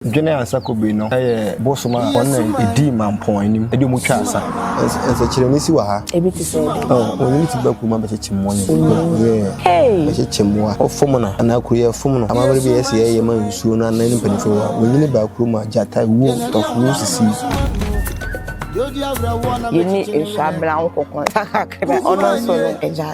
Dwene a nsa kɔbue no yɛ bosom a wɔn na edii mampɔn anim de wɔn twaa asa. Nsɛkyerɛnne si wɔ ha. Ebi te sɛ dɛn? Oh, wɔn ne ti ba kuruwa bɛkyekyem wɔn ne ti ba kuruwa. Yeah, bɛkyekyem wɔn a wɔfom no anaa kuro yɛ fom no. Amammerɛ bi a ɛsɛ yɛyɛ ma nsuo no anan mpanimfoɔ wɔ ha. Wɔnyini baa kurom a gyata, wuo, tɔforo sisii. Yɛne Esua Bra Nkokonsa kakra, ɔno nso no, agya.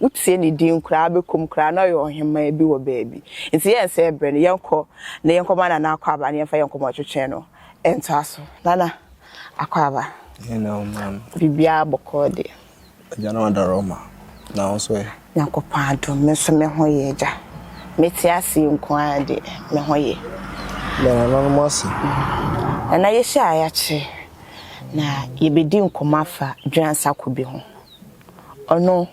Wotie ne din koraa bɛkɔm koraa na ɔyɛ ɔhemmaa bi wɔ baabi. Nti yɛn sɛ ɛbrɛ no yɛnkɔ na yɛnkɔma Nana Akwaaba na yɛmfa yɛn nkɔmmɔtwetwe no ntoa so. Nana Akwaaba. Hello maame. Biribiara bɔkɔɔ deɛ. Agya na wadɔre ɔma. Na wo nso ɛ? Nyankopɔn adom me nso me ho yɛ agya. Mete aseɛ nko ara deɛ me ho yɛ. Yɛ nananom ase. Nana yɛhyia a yɛakyɛ na yɛbɛdi nkɔmmɔ afa Dwenansa Kobe ho. Ɔno,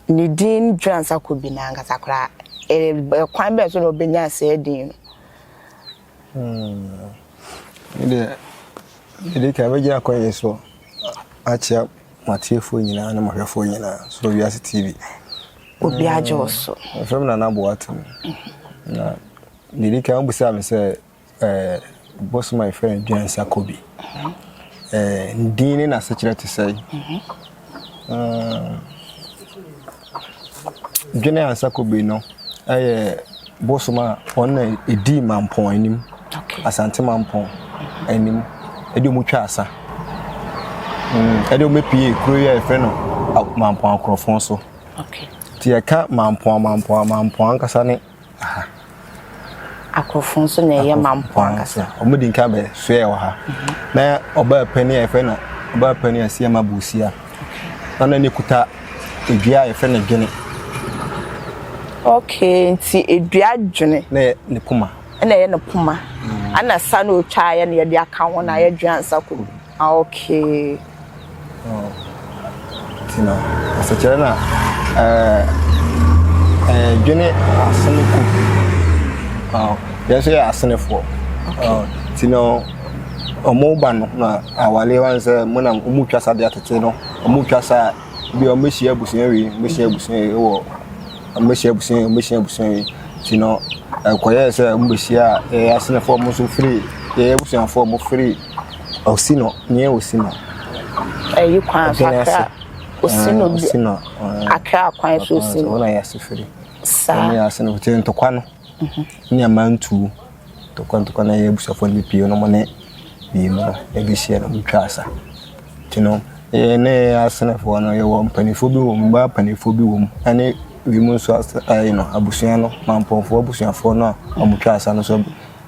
ne din dweransakɔ bi n'ankasa koraa. Ɛyɛ kwan bɛn so na ɔbɛnyaa saa din no? Me deɛ, mede kan mɛgyina akɔnyɛ so akyea m'atiefoɔ nyinaa ne m'ahwɛfoɔ nyinaa so wɔ Wiase TV. Obi agye wo so. Mefrɛ me Nana Boateng. Na deɛ ɛdi kan wobisaa me sɛ Ɛɛ, bosom a yɛfrɛ no Dwensakobi, ɛɛ, ne din ne n'asekyerɛ te sɛn? Ɛɛ, Dwensakobi no yɛ bosom a wɔn na ɛdii Mampɔn anim, Asante Mampɔn anim, ɛde wɔn twaa asa. Mm, ɛde wɔn pie kuro yi a yɛfrɛ no Mampɔn Akorɔfon so. Okay. Nti yɛka Mampɔn Mampɔn Mampɔn ankasa ne Aha. Akorɔfo nso na ɛyɛ ma mpo ankasa. Wɔn di nka bɛ soɛ wɔ ha. Na ɔbaa panin a yɛfrɛ no ɔbaa panin a si ama Bosia. Na na ne kuta edua a yɛfrɛ no dwene. Okay, nti edua dwene. Na yɛ ne poma. Na yɛ ne poma. Ana sa na otwa yɛ na yɛde aka ho na yɛ dwene ansa kɔ. Ah okay. Oh nti no asekyerɛ na eh eh dwene asene ku. Oh yɛn so yɛ asenefoɔ. Okay. Oh nti no ɔmo ba no na awale wɔn sɛ mo na ɔmo twa sa de atete no ɔmo twa sa bi ɔmo bɛhyia abusua wi ɔmo bɛhyia abusua wi wɔ ɔmo bɛhyia abusua wi ɔmo bɛhyia abusua wi nti no ɛkɔyɛ sɛ ɔmo bɛhyia yɛyɛ asenefoɔ ɔmo nso firi yɛyɛ abusuafoɔ ɔmo firi. Osino, nyɛ Osino. Ɛyi kwan so akra. Osino bi. Osino. Akra kwan so Osino. Wɔn a yɛ ase firi. Saa. Wɔn yɛ ase no kyerɛ ntɔkwa no. Ne amantuo. Ntɔkwa ntɔkwa na yɛ abusuafoɔ no bi pie no mo ne bie mu no ebi hyia no mo twa asa. Ti no yɛ ne yɛ asenefoɔ no yɛ wɔ mpanimfoɔ bi wɔ mu mbaa mpanimfoɔ bi wɔ mu ɛne bi mu nso ase ɛyɛ no abusua no mampɔnfoɔ abusuafoɔ no a wɔn twa asa no so.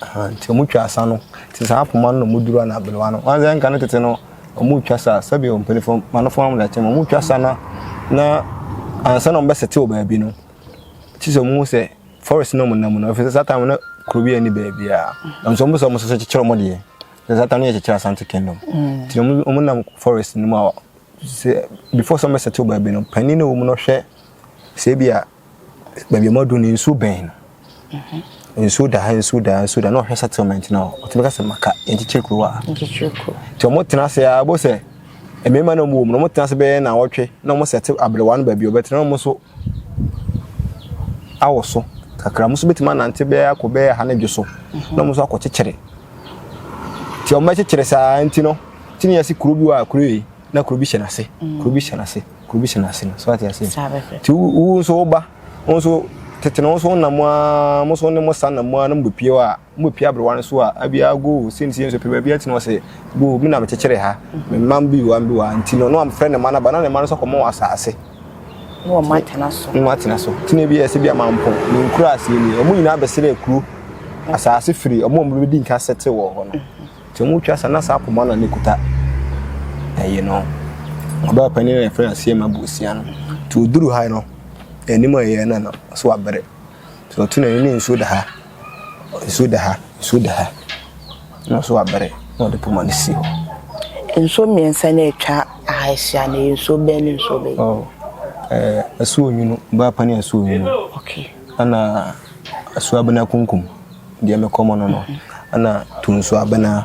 Ahaa nti ɔmo twa sa no te saa poma no na ɔmo duru anaa belewa no wahu sɛ nka ne tete no ɔmo twa sa sɛbi ɔ mpanyinfoɔ manofo ɔmo da kyɛm ɔmo twa sa na na ansa na ɔmo bɛ sete wɔ baabi no kyi sɛ ɔmo hu sɛ forest na ɔmo nam no ɛfɛ sɛ saa time na kuro bi ɛni baabi a ɛnso ɔmo sɛ ɔmo sɛ sɛ kyekyere ɔmo deɛ sɛ saa time no yɛ kyekyere asante kingdom ti ɔmo ɔmo nam forest no mu a sɛ before sɛ ɔmo bɛ sete wɔ baabi no panyin na ɔmo no hwɛ sɛ ebi a baabi a wɔadu no nsuo bɛn no nsuo da ha nsuo da ha nsuo da na ɔhwɛ settlement no ɔtumi ka sɛ maka nkyekyere kuro a nkyekyere kuro nti wɔtena ase a bo sɛ mmarima na wɔwɔ mu no wɔtena ase bɛyɛ na wɔtwe na wɔn sɛte aberewa no baabi ɔbɛtena wɔn nso awɔ so kakra wɔn nso bɛtumi anante bɛyɛ akɔ bɛyɛ ha ne dwo so na wɔn nso akɔ kyekyere nti wɔn bɛkyekyere saa nti no tini yɛ se kuro bi wɔ a kuro yi na kuro bi hyɛ n'ase kuro bi hyɛ n'ase. Kuro bi hyɛ n'ase no. So ate aseɛ? Saa bɛfɛ. Ti wo wo nso wo ba wo nso tete no wo nso nam a mo nso ne mo sa nam a na mo bɛpie hɔ a mo bɛpie aberewa no so a abia go o sɛnti nso pɛ baabi ati na ɔsɛ go o mi na mekyekyere ha me mma bi wa bi wa nti no no amfrɛ ne mma no ba na ne mma no nso kɔmɔ wɔ asaase na wɔn atena so na wɔn atena so ti na ebi yɛ sɛ bi amampɔ ne nkura aseɛ ni wɔn nyinaa bɛsrɛ kuro asaase firi wɔn a wɔn bɛdi nka sɛte wɔ hɔ no. Sɛ ɔmo twa saa na saa poma no a ne kuta ɛyi no ɔbaa panin no a yɛfrɛ no aseɛ ma bosia no nti ɔduru ha no anim a ɛyɛ na no so abere sɛ ɔto n'ani ne nsuo da ha nsuo da ha nsuo da ha na so abere na ɔde poma no si hɔ. Nsuo mmiɛnsa na atwa aha ahyia no yɛ nsuo bɛn ne nsuo bɛn? Oh, eh, asuo nwunu, ɔbaa panin asuo nwunu. Okay. Ana Asuabena kunkum deɛ me kɔmɔ no no ana Tunsuabena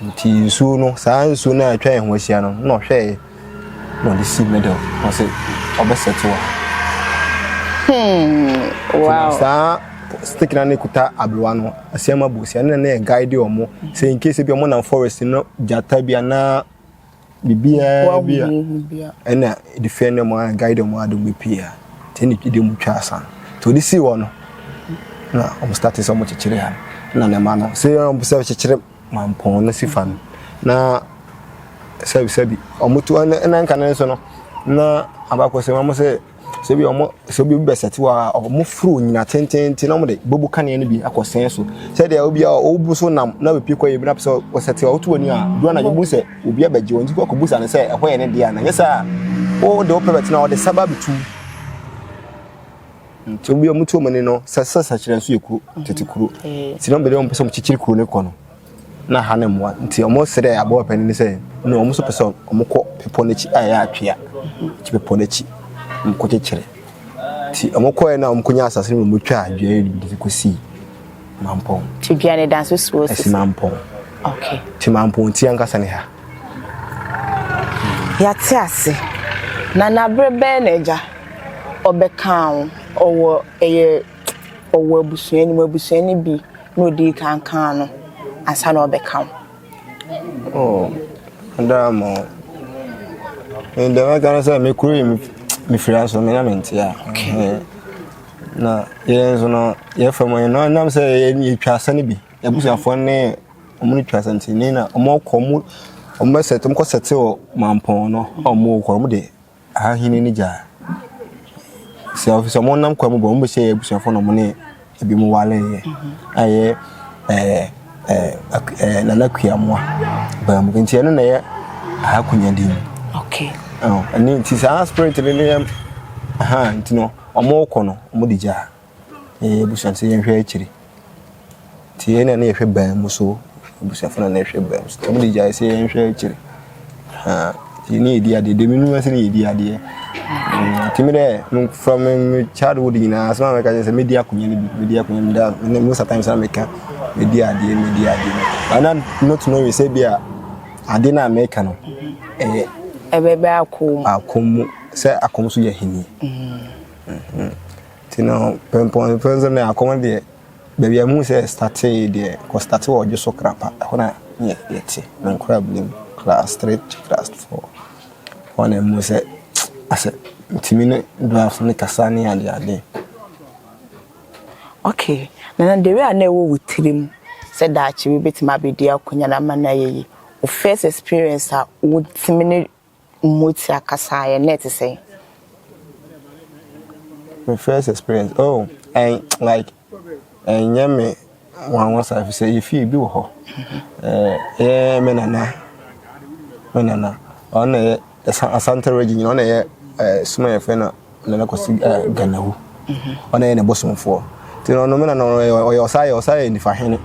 nti nsuo no saa nsuo no a atwa yɛn ho ahyia no na ɔhwɛɛ na ɔde si middle na ɔsɛ ɔbɛsɛte wɔ hmm, wow. saa stick na ne kuta aberewa no asɛm abu sia ne na yɛ guide wɔn sɛ in case bi wɔn nam forest no gyata bi anaa biribiara bi a ɛna defend them and guide them a dɔm bɛpie a nti ne de mu twa asa nti ɔde sii hɔ no na ɔmo start sɛ ɔmo kyekyere ha na ne ma no sɛ ɔmo sɛ kyekyere mampɔn no si fa no na sɛbisɛbi ɔmo tu ɛna nka ne nso no na abakɔsɛm ɔmo sɛ Sɛ ebi a wɔn sɛ obi bɛsɛte hɔ a wɔforo nyina tenteenten na wɔde bobu kanea no bi akɔ sɛn so sɛdeɛ obi a ɔbu so nam na bɛpie kɔ yɛ bi na pɛ sɛ wɔsɛte a woto w'ani a duru anadwo bu sɛ obi abɛgye wɔn nti kɔ akɔbusa no sɛ ɛhɔ yɛ ne deɛ a na nyɛ sɛ a wode wopɛ bɛtena a wɔde saba bɛtu nti obi a wɔtu wɔn ani no sɛ sɛ sɛkyerɛ nso yɛ kuro tete kuro nti na wɔbɛde wɔn pɛ sɛ wɔkyekyere kuro no kɔ no na ha no mmoa nti wɔsrɛɛ aboa panin no sɛ na wɔn nso pɛ sɛ wɔkɔ bepɔ no akyi a ɛyɛ atwea nti bepɔ no akyi nkɔkyekyere nti wɔkɔɛ na wɔkɔnya asase no wɔtwaa dua yi de kɔsii mampɔn nti dua no da nso si wɔ sisi mampɔn okay nti mampɔn ti ankasa ne ha yɛate ase na naberɛ bɛɛ na agya ɔbɛka wo ɔwɔ ɛyɛ ɔwɔ abusua no mu, abusua no bi na ɔdii kan kaa no ansa na ɔbɛka wo. Oh, daa mo. Ɛnna mɛka no sɛ me kuro yi mefiri aso me na me nte a. Na yɛn nso no yɛfa mu yɛn na nam sɛ yɛtwa asa no bi. Abusuafoɔ ne wɔn ne twa asa nti ne na wɔkɔ wɔn wɔn bɛsɛte wɔn kɔ sɛte wɔ mampɔn no a wɔwɔ kɔ wɔn de Ahahene no gyaa. Sɛ ɔfi sɛ ɔmo nam kwa mu bɔ ɔmo bɛhyɛ yɛ abusuafo na ɔmo ne ebi mu wale yɛ. A yɛ ɛɛ ɛɛ ɛɛ nana kuamoa baa mu nti ɛno na yɛ ahakunya din. Okay. Ɛno nti saa spirit no ne yɛ aha nti no ɔmo kɔ no ɔmo de gyaa. Yɛn abusua sɛ yɛnhwɛ akyiri. Nti yɛn na na yɛhwɛ ban mu so. Abusuafo na na yɛhwɛ ban mu so. Nti wɔn de gyae sɛ yɛnhwɛ akyiri. Ha nti yɛn yɛdi adeɛ. Dɛm nu ase na yɛdi adeɛ. Nti mi dɛ from me childhood nyinaa asɛm a mɛka kyerɛ sɛ mɛdi akonnwa no bi. Mɛdi akonnwa no bi. Most of times na mɛka mɛdi adeɛ mɛdi adeɛ. But na not knowing sɛ bi a adeɛ no a mɛka no ɛyɛ. Ɛbɛbɛ akɔm. Akɔm mu sɛ akɔm so yɛ ahenni. Mm-hmm. Mm-hmm. Nti no pɛnpɔn pɛ nso na akɔm deɛ baabi a muhu sɛ ɛstatee deɛ kɔstate wɔ ɔdwo so krapa ɛhɔ na yɛ yɛte na nkora binom class three to class four hɔ na muhu sɛ asɛ ntumi ne draft ne kasa ne ade ade. Okay na na dere a na ɛwɔ wo tirim sɛ daakye wobɛtumi abɛdi akonnwa no ama no ayɛ yie wo first experience a wotumi ne Motia kasa a ɛnnɛ te sɛn? Me first experience oh ɛn like ɛnyɛ me nwanwa saa efisɛ yɛfie ebi wɔ hɔ ɛɛ yɛ me nana me nana ɔno na ɛyɛ Asante region ɔno na ɛyɛ ɛɛ suma yɛfrɛ no na no kɔsi ganawu ɔna yɛ ne bosomfoɔ nti no ɔno mena no ɔyɛ ɔsa yɛ ɔsa yɛ nifa hene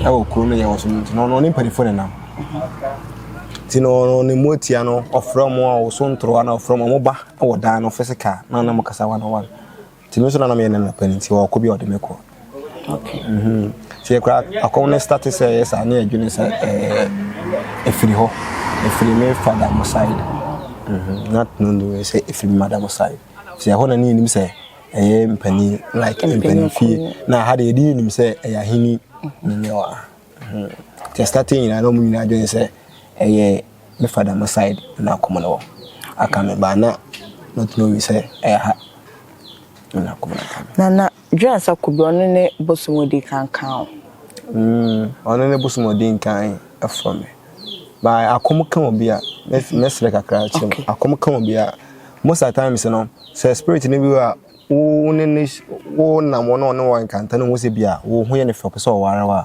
ɛwɔ kuro no yɛ wɔ so no nti no ɔno ne mpanimfoɔ nenam nti no ɔno ne mu atia no ɔfrɛ ɔmo a ɔso ntorowa na ɔfrɛ ɔmo ɔmo ba ɛwɔ dan no fɛsɛ kaa na nam kasa wa na wa nti no nso na nam yɛ ne nɔpɛ nti ɔkɔ bi a ɔde me kɔ Sɛ yɛkura akɔm no start sɛ ɛyɛ saa ne yɛdwene sɛ ɛɛ ɛfiri hɔ ɛfiri me fada mo side not knowing sɛ ɛfiri me madam side sɛ ɛhɔ na ne yɛnim sɛ ɛyɛ mpani like mpani fie na ha de yɛde yɛnim sɛ ɛyɛ aheni ne ne wa sɛ start nyinaa na ɔmo nyinaa adwene sɛ ɛyɛ me fada mo side na akɔm no wɔ aka me baa na not knowing sɛ ɛyɛ ha na akɔm no aka me Dwen sɛ kube ɔno ne bosom odi kan kan o. Mm ɔno ne bosom odi nkan ɛfɔ me by akom ka obi a mɛ srɛ kakra kyɛ mu akom ka obi a most at times no sɛ spirit no bi a wo ne ne wo nam wɔn a ɔne wɔn nkanta no ho sɛ bi a wo ho yɛ ne fɛ ɔpɛ sɛ ɔware wa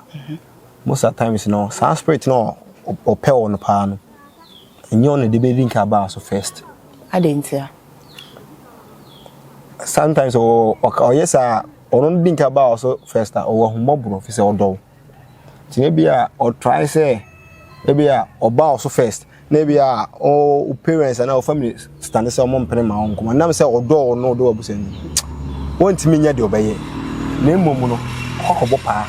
most at times no saa spirit no ɔpɛ wɔn paa no nyɛ ɔno de bɛ di nka baa so first. Adɛn ntia. sometimes ɔwɔ ɔka ɔyɛ saa a ɔno no di nka baa wɔ so first a ɔwɔ ahummɔborɔ fi sɛ ɔdɔ wo nti no ebi a ɔtrae sɛ ebi a ɔbaa wɔ so first na ebi a wo parents anaa wo family stande sɛ ɔmo mpene ma wo nkɔmmɔ nam sɛ ɔdɔ wo na ɔdɔ w'abusua no wɔntumi nyɛ deɛ ɔbɛyɛ na mmom no ɔkɔkɔbɔ paa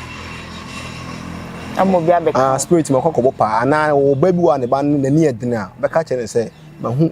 ama obi abɛka ah spirit ma ɔkɔkɔbɔ paa anaa ɔba bi wɔ a ne ba no n'ani yɛ den a bɛka kyerɛ no sɛ mahu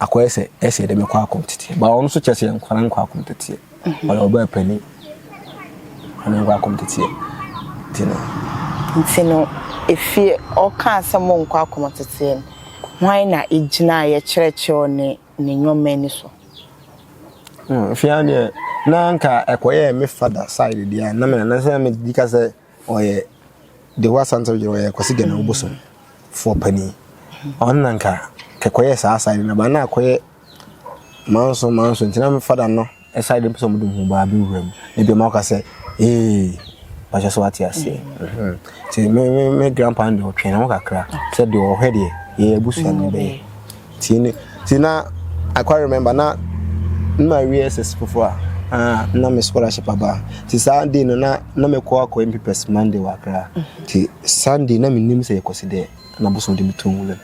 Akɔyɛ sɛ ɛsɛ dɛ mekɔ akɔmtsetsiɛ. Ba ɔno so kyerɛ sɛ yɛnkɔ na nkɔ akɔmtsetsiɛ. Ɔyɛ ɔbaa panyin. Ɔno nkɔ akɔmtsetsiɛ. Ntsi no. Ntsi no, efie ɔkaa sɛ monkɔ akɔmtsetsiɛ no, hwan na egyinaeɛ kyerɛkyerɛw ne ne nyɔma ani so? Hwɛ ara deɛ na anka ɛkɔyɛɛ me father side deɛ a na me na na sɛ na medi ka sɛ. Ɔyɛ Deho Asante Ɔyere ɔyɛ Kwasi Gana Obosom foɔ panin. Ɔno na nka kɛkɔyɛ saa side na ba na akɔyɛ manso manso nti na me fada no side no pɛsɛ ɔmode ho baa bɛwura mu na bi ɔma woka sɛ ee bakyɛ so wate aseɛ mhm. nti me, me, me grandpa no deɛ ɔtwɛn ho kakra sɛ deɛ ɔhwɛ deɛ yɛyɛ abusua no bɛyɛ Ti ne ti na I quite remember na na mawie SS foforɔ a ah, na me scholarship aba nti saa day no na na mekɔ akɔ mpipɛs Monday wɔ Accra nti Sunday na menim sɛ yɛkɔsi dɛ na bosom de metɔ mu dɛm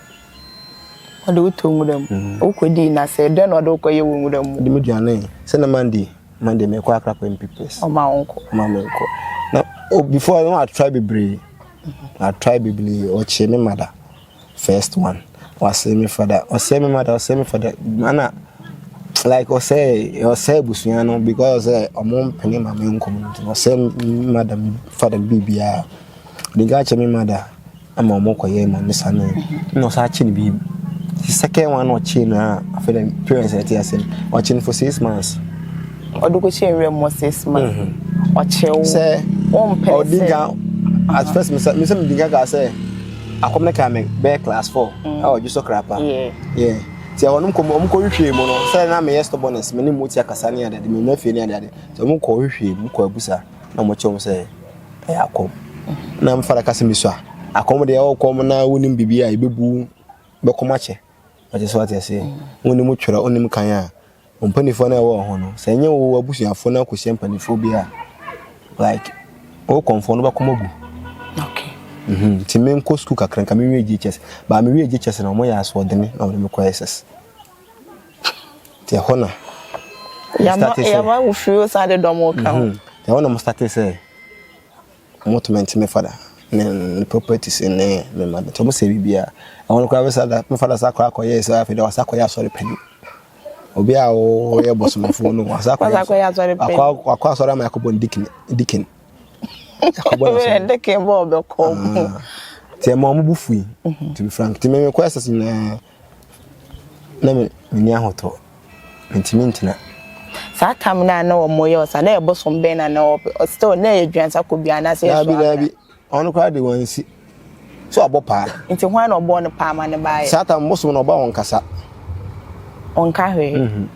ɔde wotɔ mu dɛm mm. wokɔdii na sɛ dɛn na ɔde wokɔyɛ wɔ nwura mu de me duane sɛ na Monday Monday mekɔ Accra kɔ mpipɛs ɔma wo nkɔ ɔma me nkɔ na oh, before no atry bebree atry bebree ɔkyee me mada First one wasɛe me fada ɔsɛe me mada ɔsɛe me fada ana like ɔsɛe ɔsɛe abusua no because sɛ ɔmo mpene ma me nkɔm no nti ɔsɛe me mada me fada me biribiara ɔde nka akyɛ me mada ama ɔmo kɔyɛ ma me sane na ɔsa akye no bi the second one ɔkye no a afei na parents ɛte ase no ɔkye no for six months ɔde kɔkye awura mu six months ɔkye wo sɛ ɔmpɛ sɛ ɔde nka at first me sɛ me sɛ me di nka ka sɛ akɔm no kaa me bɛyɛ class four mm. a ɔdwo so kra pa nti ɛhɔnom kɔ ɔm kɔ hwehwee mu no sɛ na meyɛ stubbornness me ne mu ti akasa ne adade menya fie ne adade nti ɔm kɔ hwehwee mu kɔ abusa na ɔmo kyɛw sɛ ɛyɛ akɔm na mfa da kasa mesua akɔm deɛ ɔkɔm na wonim biribi a ɛbɛbu bɛkɔm akyɛ ɔte sɛ wate ase wonim twerɛ wonim kan a Wo mpanifoɔ no a ɛwɔ ho no, sɛ ɛnyɛ wo w'abusuafoɔ no akɔhyia mpanifoɔ bi a, like, wo kɔmfoɔ no bɛkɔm agu. Okay. Mhm. Nti me nkɔ sukuu kakra nka me wie GHS. Baa me wie GHS na wɔn yɛ asoɔdene na wɔde me kɔ SS. Nti ɛhɔ na. Yama yama wo firi o san de dɔm o kan. Mhm. Ɛhɔ na mo starte sɛ. Ɔmo tumi nte me fada ne ne properties ne me mma nti ɔmo sɛ biribiaa. Ɛhɔ no koraa bɛsa da me fada sa kɔ akɔ yɛɛ sɛ afei deɛ wasa akɔyɛ asɔre pɛni. Obi a ɔyɛ bɔsomfoɔ no wasa akɔyɛ asɔre pɛni. Wasa akɔyɛ asɔre pɛni. Wakɔ wakɔ asɔre ama yɛakɔbɔ no dikin dikin. Yɛakɔbɔ no asɔre. Dikin bɔ ɔbɛkɔ. Nti ɛma ɔmo bo fui. To be frank. Nti me mekɔ SS nyinaa. Na me menni ahotɔ, mentumi ntena. Saa tam no a na wɔn yɛ ɔsa, na yɛ bosom bɛn na na wɔpɛ? Ɔsi still na yɛ duansa kɔ bia anaasɛ yɛ so akra? Daabi daabi, wɔn koraa de wɔn nsi. So abɔ paa. Nti hwan na ɔbɔɔ no paa ma ne ba ayɛ? Saa tam bosom no ɔba wɔn kasa. Ɔnka hwee. Mm -hmm.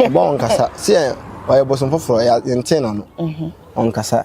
Ɔba wɔn kasa, sɛ ɔyɛ bosom foforɔ, yɛntee n'ano. Mm -hmm. Ɔnkasa.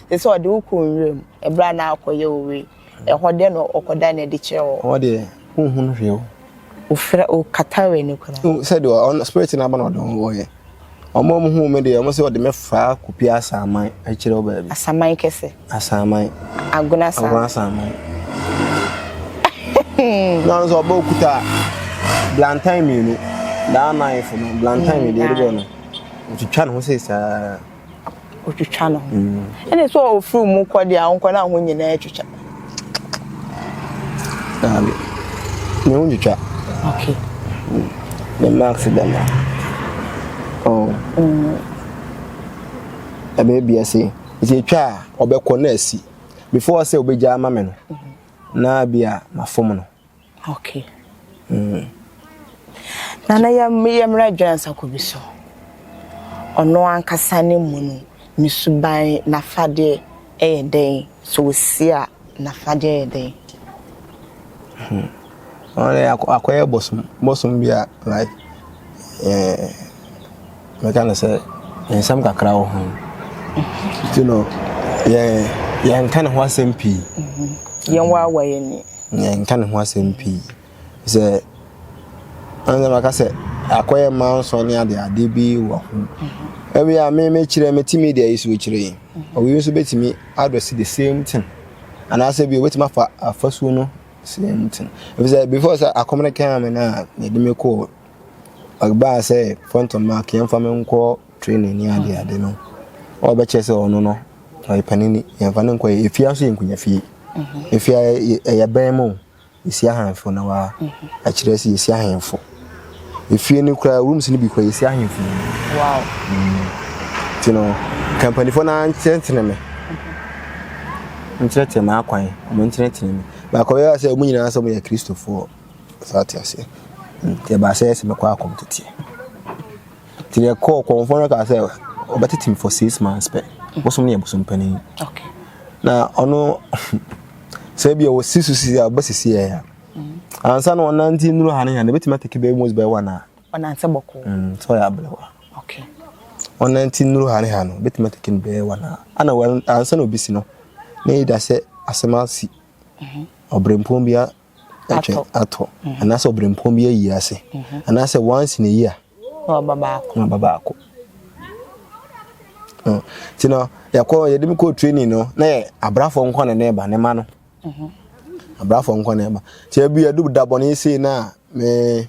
Te sɛ ɔde wo kɔ nwura mu, ɛberɛ a na ɔkɔyɛ owe, ɛhɔ dɛn na ɔkɔda no adi kyerɛ wɔ? Hɔ deɛ, wonhunu hwee o. Wofira, wokata w'ani koraa. Wohu sɛ deɛ ɔno, spirit no aba na ɔde wo hɔeɛ. Wɔn a wɔhuu me deɛ, wɔn se wɔde me faa Kupia Asaman akyire hɔ baabi. Asaman kɛse? Asaman. Agona Asaman. Agona Asaman. Na ɔno nso ɔbɔ okuta blantan mmienu, that knife no, blantan mmienu deɛ ɛde bɔ no, ɔtwitwa ne ho sei saa. otwitwa no ho ɛna sɛ ofiri mu kɔ deɛ a nkɔ na ho nyinaa twitwa daabi ne ho twitwa okay ne mm. marks da no oh mm. ɛbɛyɛ bia sɛ ɛsɛ ɛtwa a ɔbɛkɔ na asi before sɛ wobɛgya ama me no mm-hmm. na bia mafom no Okay. Mm. Nana yɛ yɛ mmerɛ adwene nsako bi so. Ɔno ankasa ne mu no, ne suban n'afadeɛ ɛyɛ dɛn? So wɔsi a n'afadeɛ ɛyɛ dɛn? Hmm. Ɔno akɔyɛ bosom, bosom bi a like, eh, Mɛka no sɛ nsɛm kakra wɔ ho. Nti no, yɛnka ne ho asɛm pii. Yɛnwaawa yɛn ani. Yɛnka ne ho asɛm pii. Sɛ ɛnna maka sɛ akɔyɛ mmaa nsɔ ne ade ade bi wɔ ho. Ebi a me mekyerɛ me ti media yi so kyerɛ yi. Obi nso betumi address the same thing. Anaasɛ bi obetumi afa afasuo no same thing. Efisɛ before sɛ akɔm no kan me na yɛde me kɔ Ɔbaa sɛ front of mark yɛmfa no nkɔ training ne ade ade no ɔbɛkyɛ sɛ ɔno no ɔyɛ panini yɛmfa no nkɔ yɛ efia nso yɛ nkunya fie mhm. efia ɛyɛ bɛn mu esi ahemfo na wa mhm. akyerɛ sɛ esi ahemfo efie no kura rooms no bi kura esi ahemfo wow mhm. ti no kampanifo na nkyerɛnkyerɛ me nkyerɛkyerɛ me akwan ɔmo nkyerɛkyerɛ me baako yɛ sɛ ɔmo nyinaa sɛ ɔmo yɛ kristofoɔ. So ate aseɛ? Nti ɛbaa sɛ ɛsɛ mɛkɔ akɔm teteɛ. Nti deɛ kɔɔ kɔmfoɔ no kaa sɛ ɔbɛtete me for six months pɛ. Bosom no yɛ bosom panin. Na ɔno sɛ bi a wɔsi so si a ɔbɛsisi yɛ ya. Ansa na ɔnante nnuru ha ne ha no bɛtumi ateke bɛyɛ mos bɛyɛ wɔn a. Ɔnante bɔkɔ. Mm, sɛ ɔyɛ abelewa. Okay. Ɔnante nnuru ha ne ha no bɛtumi ateke no bɛyɛ wɔn a. Ana ansa na obi si no, na ɛda sɛ asɛm asi. Ɔbrempɔn bi a atwɛn atɔ, mhm. anaasɛ ɔbrɛmpɔn bi ayi ase, mhm. anaasɛ once na eyi a na ɔba baako. Na ɔba baako. Oh, nti no yɛkɔ yɛde mi kɔ training no na yɛ abrafo nkɔ na ne ba ne ma no mhm. abrafo nkɔ na ɛba nti ebi yɛdu da bɔ ne ese na me.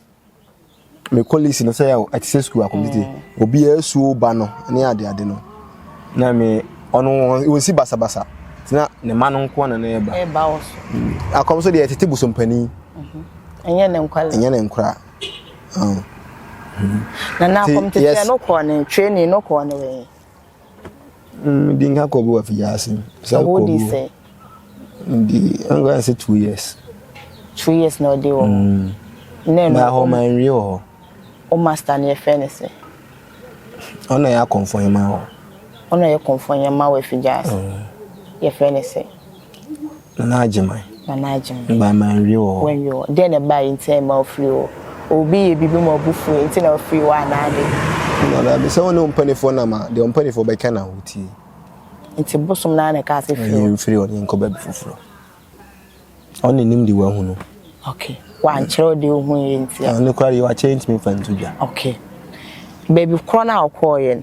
me colleagues no sɛ yɛ ɛte sɛ school akɔmite mm. obiara suo ba no ne ade ade no na me ɔno wɔnsi basabasa na ne ma no nko na na ɛba ɛba wɔ so mm. akɔm so deɛ ɛtete bosompanin mhm. ɛnyɛ ne nkwadaa ɛnyɛ ne nkwadaa mm. na na akɔm tete no kɔɔ ne training no kɔɔ ne wɛn Mm, di nka kɔbu wa fija ase. Sɛ kɔbu. Di sɛ. Di nka sɛ two years. Two years na ɔde wɔ. Mm. Nɛ no. Na hɔ ma nwie wɔ hɔ. O master ne yɛfɛ ne sɛ. Ɔna yɛ akɔnfɔ yɛ ma wɔ. Ɔna yɛ kɔnfɔ yɛ ma wɔ fija ase. Mm. Yɛfɛ ne sɛ. Nana Agyeman. Nana Agyeman. Ɛbaa ma anwie wɔ hɔ. Wanwie wɔ hɔ. Deɛn na ɛbaeɛ nti a ɛma ɔfirii hɔ? Obi yɛ biribi ma ɔbo fuiɛ nti na ɔfirii hɔ anaa deɛn? Nana Agyeman, Sɛ wo ne wo mpaninfoɔ nam a, deɛ wo mpaninfoɔ bɛka na wotie. Nti bosom no ara na ɛkaa sɛ firi hɔ? Yɛmfiri hɔ na yɛnkɔ baabi foforɔ. Ɔno na nim deɛ wahu no. Ok. Wankyerɛ wo deɛ ɔhuiɛ nti a? Ɔno koraa deɛ wakyɛ ntumi mfa nto dwa. Ok. Baabi korɔ no a ɔkɔeɛ no,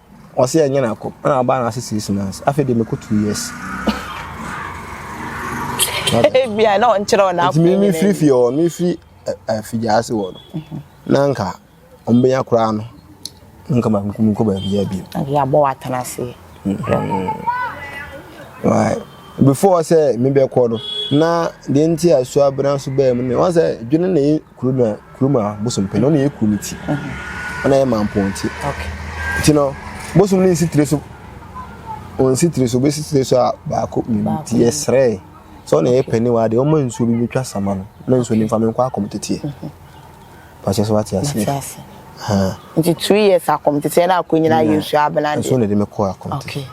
Ɔse yɛnyɛ no akɔ na ɔbaa no ase six months afei deɛ mɛkɔ two years. Ebia na ɔnkyerɛ ɔna akɔ. Nti mi mi firi fie hɔ mi firi afigya ase wɔ no na nka ɔmbɛnya koraa no nka ma nkum nkɔ baabi yɛ bi. Ɛdi abɔ wa tena ase. Why before sɛ mi bɛ kɔ no na deɛ nti a suabena nso bɛɛ mu ne wɔn sɛ dwene na Kuro no kuro mu a bosom pɛ no ɔna yɛ kuro no ti ɔna yɛ mampɔn ti nti no bosom no nsi tiri so ɔnsi tiri so bɛsi tiri so a baako mmienu ti yɛ srɛɛ sɛ ɔna yɛ pɛ ne wa adeɛ ɔma nsuo bi bɛtwa sama no na nsuo no mfa me nkɔ akɔm teteɛ pakyɛ so wate aseɛ nti two years akɔm teteɛ na akɔ nyina yɛ nsuo abena deɛ nsuo na ɛde me kɔ akɔm teteɛ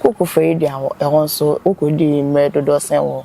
koko fɛ yi deɛ ɛhɔ nso wokɔ di mmerɛ dodoɔ sɛn wɔ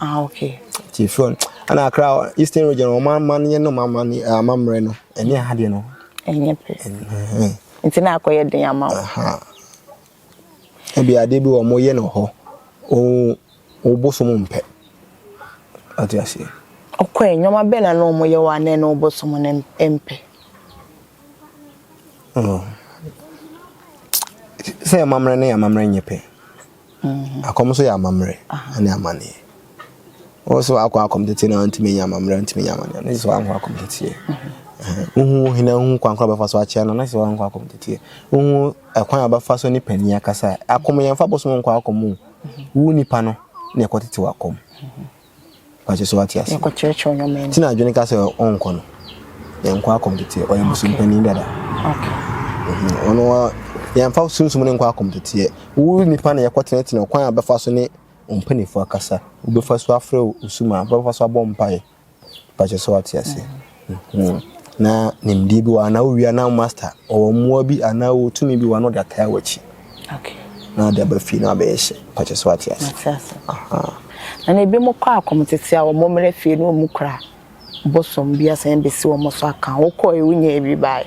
Ah okay. Ti fun. Ana akra Eastern region wɔn amanneɛ no amanneɛ eh, amammerɛ no ɛne aha deɛ no. Ɛnyɛ pɛ. Nti na akɔyɛ den ama wo. Ebi adeɛ bi wɔn yɛ no hɔ. O o bosom mpɛ. Ate aseɛ. Ɔkɔ ɛ nneɛma bɛn na na wɔn yɛ wɔ anɛ na ɔbosom no mpɛ. Oh. Sɛ amammerɛ ne amammerɛ nyɛ pɛ. Akɔm nso yɛ amammerɛ ne amanneɛ. Wo so akɔ akɔm tete na ntumi nyɛ amammerɛ ntumi nyɛ amanneɛ ne sɛ wankɔ akɔm teteɛ. Wohu hene wohu kwan koro bɛfa so akyea no ne sɛ wankɔ akɔm teteɛ. Wohu ɛkwan a bɛfa so ne panin akasa. Akɔm yɛn fa bosom nkɔ akɔm o. Wo nipa no na ɛkɔ tete wakɔm. Pakyɛ sɛ wate ase. Yɛkɔkyerɛkyerɛ ɔyɛ ɔman mu. Ti na adwene ka sɛ ɔnkɔ no. Yɛnkɔ akɔmteteɛ. Ɔyɛ bosompani dada. Okay. Ɔno a yɛmfa sunsum no nkɔ akɔmteteɛ. Wo nipa na yɛkɔtenetene ɔkwan a bɛfa so ne ɔmpanimfoɔ akasa. Wobɛfa so afrɛ wo suma. Wobɛfa so abɔ mpaeɛ. Pakyɛ sɛ wate ase. Hmm. Na nimdeɛ bi wɔ anaa wowia na master ɔwɔ mmoa bi anaa wɔ tumi bi wɔ anaa ɔde ataa w'akyi. Okay. Na ɔde aba fie na abɛyɛ hyɛ. Pàkyɛ so ate ase. Ate ase. Aha. Na na ebi mo kɔ akɔm tete a wɔn mmerɛ fie na wɔn kura bosom bi asan besi wɔn so aka. Wokɔ ewu nyɛ ebi baayɛ.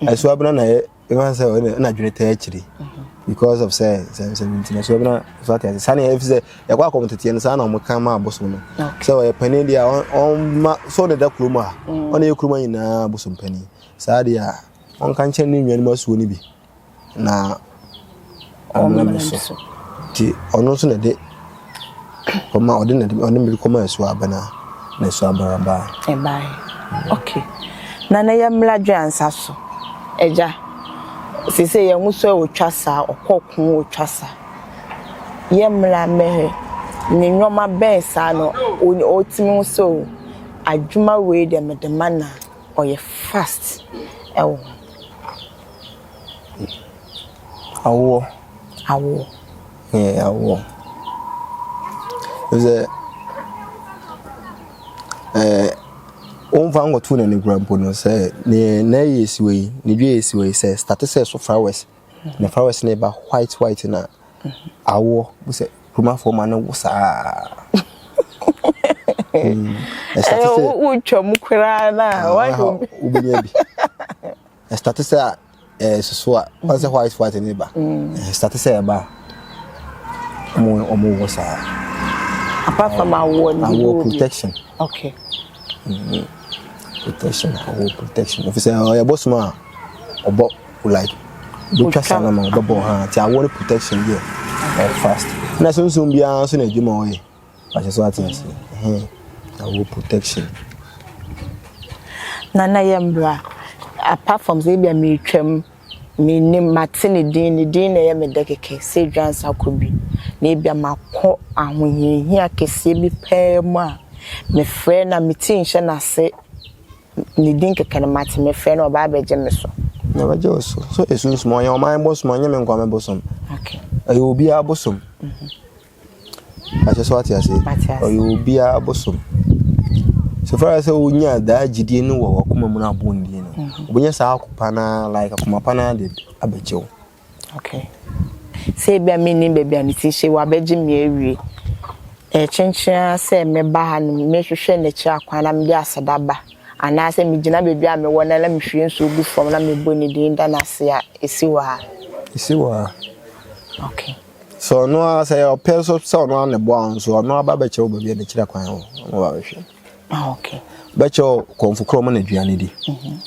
ɛsoa bena na yɛ ɛma sɛ ɔyɛ na adwene taa akyiri because of sɛ nsɛmsɛm nti na ɛsoa bena so ate ase saa na ɛfi sɛ ɛkɔ akɔm teteɛ no saa na wɔka ma abosom no sɛ ɔyɛ panin deɛ a ɔma sɛ ɔde da kurom a ɔne yɛ kurom nyinaa abosom panin saa deɛ a ɔnka nkyɛn ne nnuanom asuo no bi na ɔmmrɛ me so. Nti ɔno nso na ɛde kɔma ɔde na ɔne mmiri kɔma ɛso abɛna na ɛso abɛna baa. ɛbaa ok na na yɛ mmla dwe ansa so ɛgya sese yɛn ho so ɔtwa saa ɔkɔ ko ɔtwa saa yɛ mmla mmɛhɛ ne nneɛma bɛn saa no ɔtumi ho so adwuma wei deɛ mede ma na ɔyɛ fast ɛwɔ ho. Awoɔ. Awoɔ. Ɛɛ awoɔ. Sɛ ɛɛ wɔmfa nkɔto no anigura mpo no sɛ ne na yɛ esiwa yi ne dua yɛ esiwa yi sɛ starte sɛ so flowers na flowers na ɛba white white na awoɔ sɛ kumafoɔ ma no wo saa. Ɛsɛ sɛ wotwa mu koraa na wɔn wobɛnya bi. Ɛstate sɛ a ɛsoso a wɔn sɛ white white ne ba ɛstate sɛ ɛba a wɔn wɔn wɔ saa. apart from awɔ ne bi wɔ protection. okay. Mm-hmm. protection awɔ protection efisɛ ɔyɛ bɔ suma a ɔbɔ like botwa sa na ma ɔbɛbɔ ha ti awɔ ne protection yɛ ɔyɛ fast na sunsun biara nso na adwuma ɔyɛ. Wahyɛ so ate ase. Ɛhɛn. Na ɔwɔ protection. Na na ɛyɛ mmara. Apart from sɛ ebia meretwam, menim, mate ne din, ne din na ɛyɛ me dɛ kɛkɛ sɛ Adwira Nsa Kobi. Na ebia makɔ ahohiahia kɛseɛ bi paa mu a, mefrɛ no a, me ti nhyɛ n'ase. Ne din kɛkɛ no mate, mefrɛ no a, ɔba abɛgye me so. Na ɔbɛgye wo so. So ɛsunsum? Ɔyɛ ɔman bosom? Ɔnyɛ me nkoa me bosom. Okay. Ɛyɛ obiara bosom. Mepakyɛ sɛ wate aseɛ? Mate aseɛ. Ɔyɛ obiara bosom. So far as wonya daa gyidie no wɔ wakoma mu no abɔ wɔn din no, mhm. wobɛnya saa akopa no like akoma pa no ara de abɛkyɛ wo. Okay. Sɛ ebia mennim baabi a mete hyɛ wabɛgye me awie. Ɛkyenkyen ara sɛ mɛba ha no mehwehwɛ n'akyi akwan na mede aseda ba anaasɛ megyina baabi a mewɔ na na mehwie nsuo gu fam na mebɔ ne din da no ase a ɛsi wɔ ha. Ɛsi wɔ ha. Okay. Sɛ ɔno ara sɛ ɔpɛ nso sɛ ɔno ara na ɛboa wɔn nso ɔno ara ba bɛkyerɛ wo baabi a n'akyiri akwan wɔ ɔno ba bɛhwɛ ah, okay. bɛkyerɛ wo kɔmfo korɔ ɔma no aduane di mhm.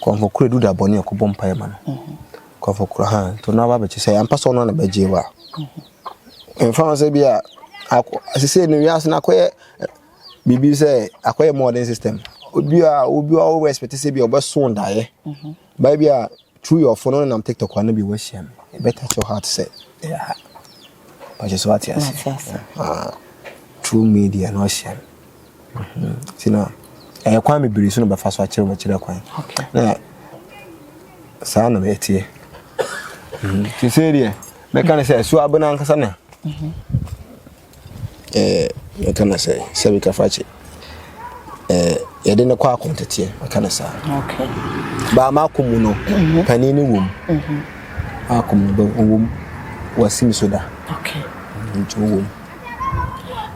kɔmfo korɔ ɛdu da bɔne ɔkɔbɔ mpaeɛ ma no mhm. kɔmfo korɔ ha nti ɔno aba bɛkyɛ sɛ ampa sɛ ɔno ara na bɛgye wo a mhm. mfa ho sɛ bi a asesei no wiase no akɔyɛ eh, biribi sɛ akɔyɛ modern system obi a obi a wo respect sɛ bi a ɔbɛso daeɛ Baa bi a true your phone ɔnenam tiktok ano bi wahyia me you better show heart sɛ ɛyɛ ha ɔkyɛ so ate ase true media na ɔhyia me nti na ɛyɛ kwan bebree so na bɛfa so akyerɛ bɛkyerɛ kwan na saa na mɛteɛ sesei deɛ mɛka ne sɛ ɛso abena ankasa na ɛɛ yɛka no sɛ sɛbi kafakye ɛɛ yɛde no kɔ akonteteɛ yɛka no saa baa maako mu no mhm. panin no wɔ mu mhm. maako mu no ɔwɔ mu wɔasi me so da nti ɔwɔ mu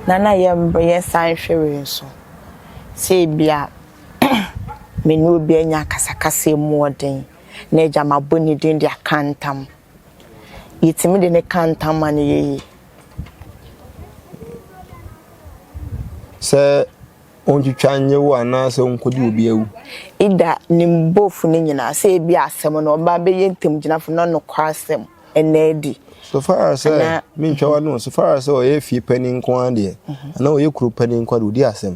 na na yɛmbreyɛ san hwɛwee nso sɛ ebia me ne obi anya akasakasa mu ɔden na agya mabɔ ne din de aka ntam yɛtumi de ne ka ntam ma no yɛyie Sɛ ontwitwa nye wo anaasɛ onkodi obi awu. Ida ne bɔfo no nyinaa sɛ ebia asɛm no ɔba abɛyɛ ntamgyinafo na nokwasɛm nna adi. So far as sɛ mentwa w'ano, so far as sɛ ɔyɛ fie panin nko ara deɛ, anaa ɔyɛ kuro panin nko ara deɛ, ɔdi asɛm.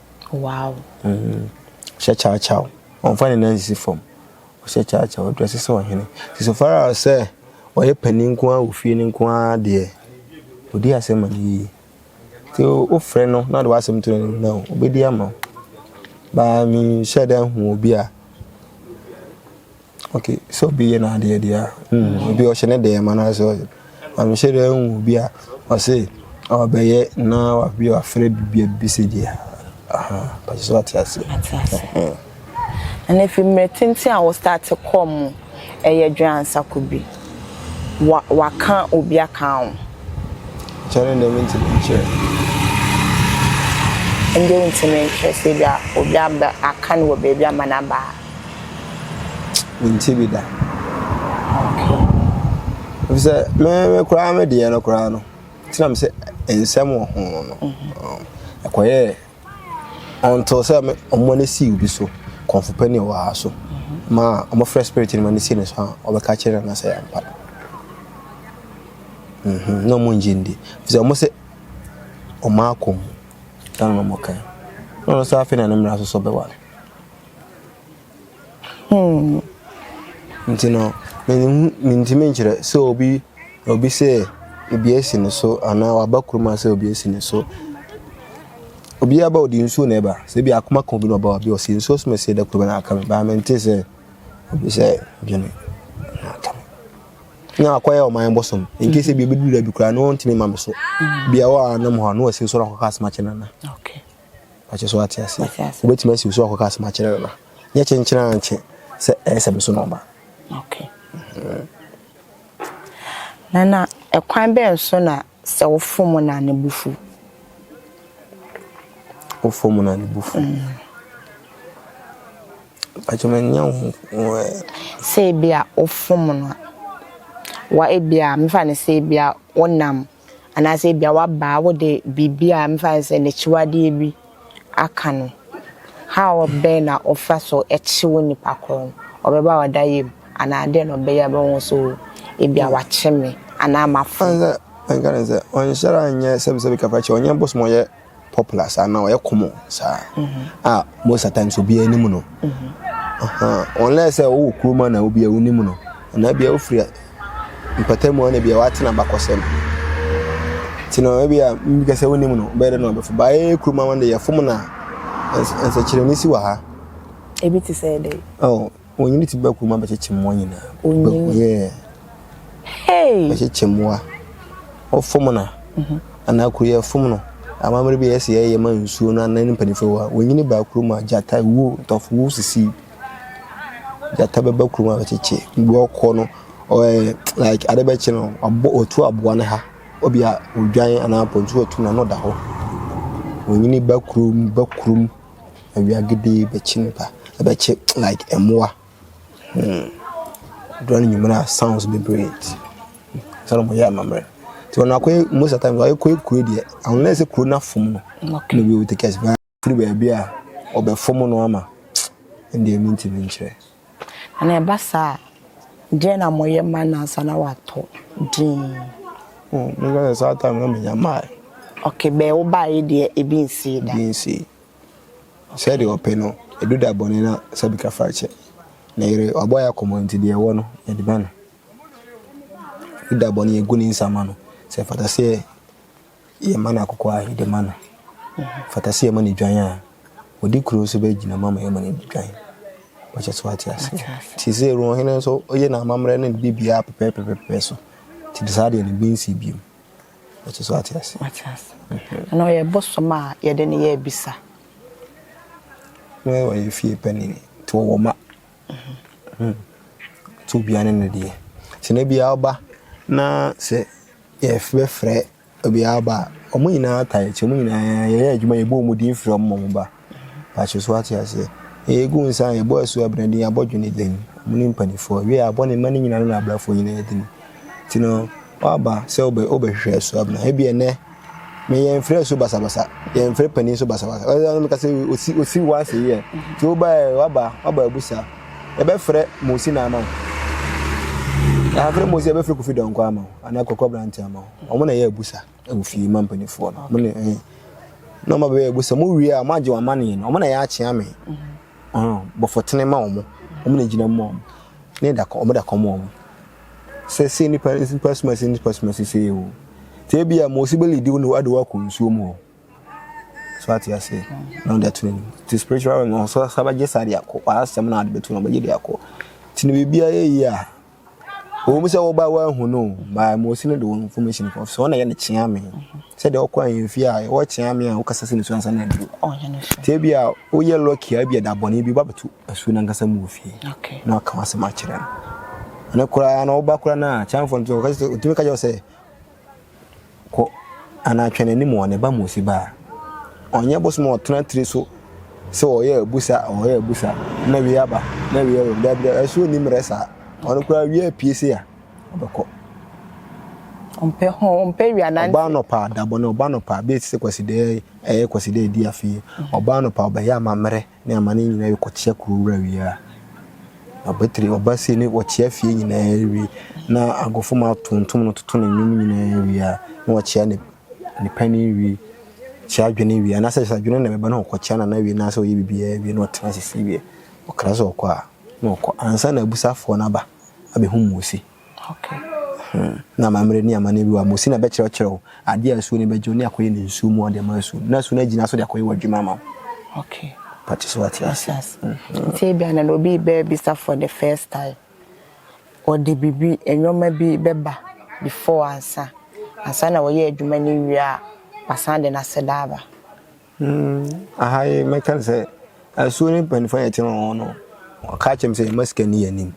Wow. Mm. Ɔhyɛ kyawkyaw. Ɔmfa ne nan sisi fam. Ɔhyɛ kyawkyaw. Ɔdrɛse sɛ ɔhene. Ti so far as sɛ ɔyɛ panin nko ara wɔ fie no nko ara deɛ, ɔdi asɛm ma no yie. Nti wofrɛ no na ɔde w'asɛm to n'anim na ɔbɛdi ama wo. Baa menhyɛ da hu obi a ok sɛ obi yɛ n'adeɛ deɛ a mm, obi ɔhyɛ ne deɛ ma no sɛ ɔyɛ ɔmehyɛ deɛ nwu bi a ɔse ɔbɛyɛ na wabi wafrɛ bibia bi sɛ deɛ pɛsɛ sɛ ɔte ase ɛna fi mmerɛ tenten a wo start kɔ mu ɛyɛ dwansako bi Wa waka obi aka wo. Kyɛrɛ ndɛ me ntimi nkyerɛ. Ndɛ wo ntimi nkyerɛ sɛ ebia obi abɛ aka no wɔ baabi ama no aba ha. Me nte bi da. Okay. Efisɛ me me koraa me deɛ no koraa no. Tena me sɛ nsɛm wɔ ho no. Ɛkɔyɛ. until sɛ wɔn ani si obi so kɔnfo pɛ ne wɔ ha so ma wɔfrɛ spirit no ma ne si ne so a wɔbɛka kyerɛ no sɛ yɛmpa mhm, na wɔn ngye ndi sɛ wɔn sɛ wɔn akɔ mu na wɔn kan na wɔn nso afei na ne mmara so so bɛware. Nti no, menhu, mentumi nkyerɛ sɛ obi, obi sɛ obi asi ne so anaa waba kurom a sɛ obi asi ne so. Obiara ba ɔde nsuo na ɛba, sɛ ebi akoma ka obi na ɔba ɔde ɔsi nsuo so ma ɛsɛ da koro bɛ na aka me baa mente sɛ obi sɛ dwene na aka me. Na akɔyɛ ɔman bosom, in case ebi obɛduru da bi koraa na ɔntumi ma me so. Bia wɔ a nam hɔ a na wasi nsuo na akɔka asɛm akyɛ nana. Okay. Pakyɛ so wate aseɛ? Wate aseɛ. Wobɛtumi asi so akɔka asɛm akyerɛ no na nyɛ kyenkyen ara nkyɛ sɛ ɛyɛ sɛ me so na ɔba. Okay. Na na ɛkwan bɛn so na sɛ wofom na ne bo fu? Wofom na ne bo fu. Mm. Pakyɛ me nyɛ wo eh. Sɛ ebi a wofom no a, wa ebi a mefa no sɛ ebi a wonam Anaasɛ ebia w'abaa wode biribi a mefa no sɛ n'akyiwadeɛ bi aka no. How bɛn na ɔfa so kye wo nipa korɔ no? Ɔbɛba a ɔda yam anaa dɛn na ɔbɛyɛ a bɛhu so ebia wakye me anaa mafom? Ansa na nka ne sɛ ɔnhyɛra nyɛ sɛbisɛbi kafa kyɛ ɔnyɛ bosom ɔyɛ. popular saa na ɔyɛ common saa a most of times obiara anim no unless sɛ wowɔ kurom a na obiara wonim no anaa bia wofiri mpatamu a na bia woatena bakɔsɛm nti no ebi a mbika sɛ wonim no bɛyɛ dɛ na ɔbɛfo baayɛ kurom a wɔde yɛfom no a nsɛkyerɛnne si wɔ ha ebi te sɛ dɛ oh Onyini ti bɛku ma bɛkyekye mmoa nyinaa. Onyini? Yeah. Hey! Bɛkyekye mmoa. Wɔfom no mhm. anaa kuro yɛ fom no. Amammerɛ bi yɛsi yɛyɛ ma nsuo no anan mpanimfoɔ a onyini baa kurom a gyata wuo ntɔfo wuo sisi. Gyata bɛba kurom a bɛkyekye. Mmoa ɔkɔ no ɔɛ like ade bɛkye no ɔbɔ ɔtu aboa no ha. Obi a odwan anaa pɔntu ɔtu na no da hɔ. Onyini ba kurom ba kurom. Awiagede bɛkye nnipa, ɛbɛkye like mmoa. Hmm, ɛduru anwummerɛ a sounds bebree nti, ansa na wɔyɛ amammerɛ. Nti wɔn akɔyɛ most of the time wɔyɛ kɔyɛ kuro deɛ unless sɛ kuro no afom no. Okay. Na wɔyɛ take us back firi baabi a wɔbɛfom no ama. Ɛnna ɛmu nti menkyerɛ. Na na ɛba saa a, deɛn na moyɛ ma no ansa na watɔ din? Oh, me nka sɛ saa time na menya mmae. Okay, bɛɛ wo baeɛ deɛ ebi nsii da? Ebi nsii. Okay. Sɛdeɛ ɔpɛ no, ɛdu da bɔne na sɛbi ka fa kyɛ. Ne yere, wabɔ yɛ akɔmmɔ nti deɛ ɛwɔ no, yɛde ma no. Ɛdu da bɔne, yɛgu ne nsa ma no. Sɛ ɛfata sɛ Yɛma no akokɔ a, yɛde ma no. Fata sɛ yɛma no dwan a, ɔde kuro nso bɛgyina mu ama yɛma no adi dwan. Wɔkyɛ so ate ase. Nti sɛ ɛwura ɔhene nso, ɔyɛ n'amammerɛ ne biribiara pɛpɛɛpɛpɛpɛ so. Nti de saa deɛ no bi nsi bio. Wɔkyɛ so ate ase. Ate ase. Ɛna ɔyɛ bosom a yɛde no yɛ abisa. Wɔyɛ fie panin, nti wɔwɔ mma. Sɛ obiara ne no deɛ. Sɛ na biara ɔba na sɛ yɛbɛfrɛ obiara aba a, wɔn nyinaa tae te, wɔn nyinaa yɛyɛ adwuma yɛbɔ wɔn din frɛ wɔn ma wɔn ba. Pakyɛ so ate aseɛ. Ɛyɛ gu nsa a yɛbɔ asu abena din, abɔ dwene din, wɔn ne mpanimfoɔ. Wie a, abɔ ne mma no nyinaa ne n'abrɛfoɔ nyinaa din. Nti no, woaba sɛ wobɛhwehwɛ asu abena. Ebia ɛnɛ Me yɛn frɛ so basabasa yɛn frɛ panin so basabasa ɔyɛ ɔno kasa osi osi wa se yɛ tí o ba yɛ waba waba abusa ɛbɛ frɛ mosi na ama o yɛn frɛ mosi ɛbɛ frɛ kofi dɔnkɔ ama o ana kɔkɔ aberante ama o wɔn na yɛ abusa ɛwɔ fie ma mpanimfoɔ no wɔn na ɛɛ eh. na wɔn abɛyɛ abusa wɔn wie a wɔn agye wɔn amaneɛ no wɔn na yɛ akyea me ɔn bɔfɔtene ma wɔn wɔn na gyina mu wɔn ne da wɔn da kɔm wɔn. sɛ se nnipa nnipa soma se nnipa soma se sei o te ebi a mose beli di wo ade wakɔ nsuo mu hɔ so ate ase na ɔde ato n'anim te spiritual realm na ɔsɔ saba gye saa de akɔ asɛm na ade bɛto na ɔbɛgye de akɔ te ne biribi ayɛ yi a wɔn sɛ wɔba wɔahu no baa mose no de wɔn information kɔ so ɔna yɛ ne kyea me sɛ deɛ ɔkɔ ahemfie a ɛwɔ kyea me a wokasa sɛ ne so ansa na adu te ebi a woyɛ lɔki a ebi ɛda bɔne bi ba bɛto asuo no ankasa mu wɔ fie na waka w'asɛm akyerɛ no ɛno koraa na woba koraa no a kyanfoɔ no ɔtumi ka kyerɛ wo sɛ kɔ anaa twɛn anim wɔ ne ba mu ɔsi baa ɔnyɛ bosom a ɔtena tiri so sɛ ɔyɛ abusa ɔyɛ abusa na wie aba na wie wɔ daabi daabi asuo nni mmerɛ saa ɔno koraa wie apue se a ɔbɛkɔ ɔmpɛ ho ɔmpɛ wia nante ɔbaa nɔpa adabɔ ne ɔbaa nɔpa bɛɛ ti sɛ kwasidɛ ɛyɛ kwasidɛ di afei ɔbaa nɔpa ɔbɛyɛ amammerɛ Ne amane nyinaa wie kɔkyea kuro wura wie a, Abatiri ɔba sie ne wɔkyea fie nyinaa wie na agofo ma tontom no toto ne nnwom nyinaa wie a, na wɔkyea ne ne pani wie, kyea adwene wie, anaasɛ sɛ adwene na ɛbɛba na ɔkɔkyea nana wie na sɛ ɔyɛ biribiara wie na ɔtena ase fie wie. Ɔkra sɛ ɔkɔ a, na ɔkɔ ansa na abusuafoɔ no aba abɛhu mmuusi. Na amammerɛ ne amanneɛ bi wɔ a, Mose na ɛbɛkyerɛkyerɛ wo adeɛ a asuo no bɛgye wo ne akɔyɛ no nsuo mu a wode ama asuo no, na asuo no agyina so de akɔyɛ w'adwuma ama wo. Mpakyɛ sɛ woate aseɛ? Nti ebia na obi rebɛbisa for the first time, wɔde biribi, nneɛma bi bɛba before ansa, ansa na wɔyɛ adwuma no wie a, wɔasan de n'aseda aba. Aha yi mɛka no sɛ asuo no mpanyinfoɔ a yɛte wɔn ho no ɔka kyerɛ me sɛ yɛma sika ni yɛ anim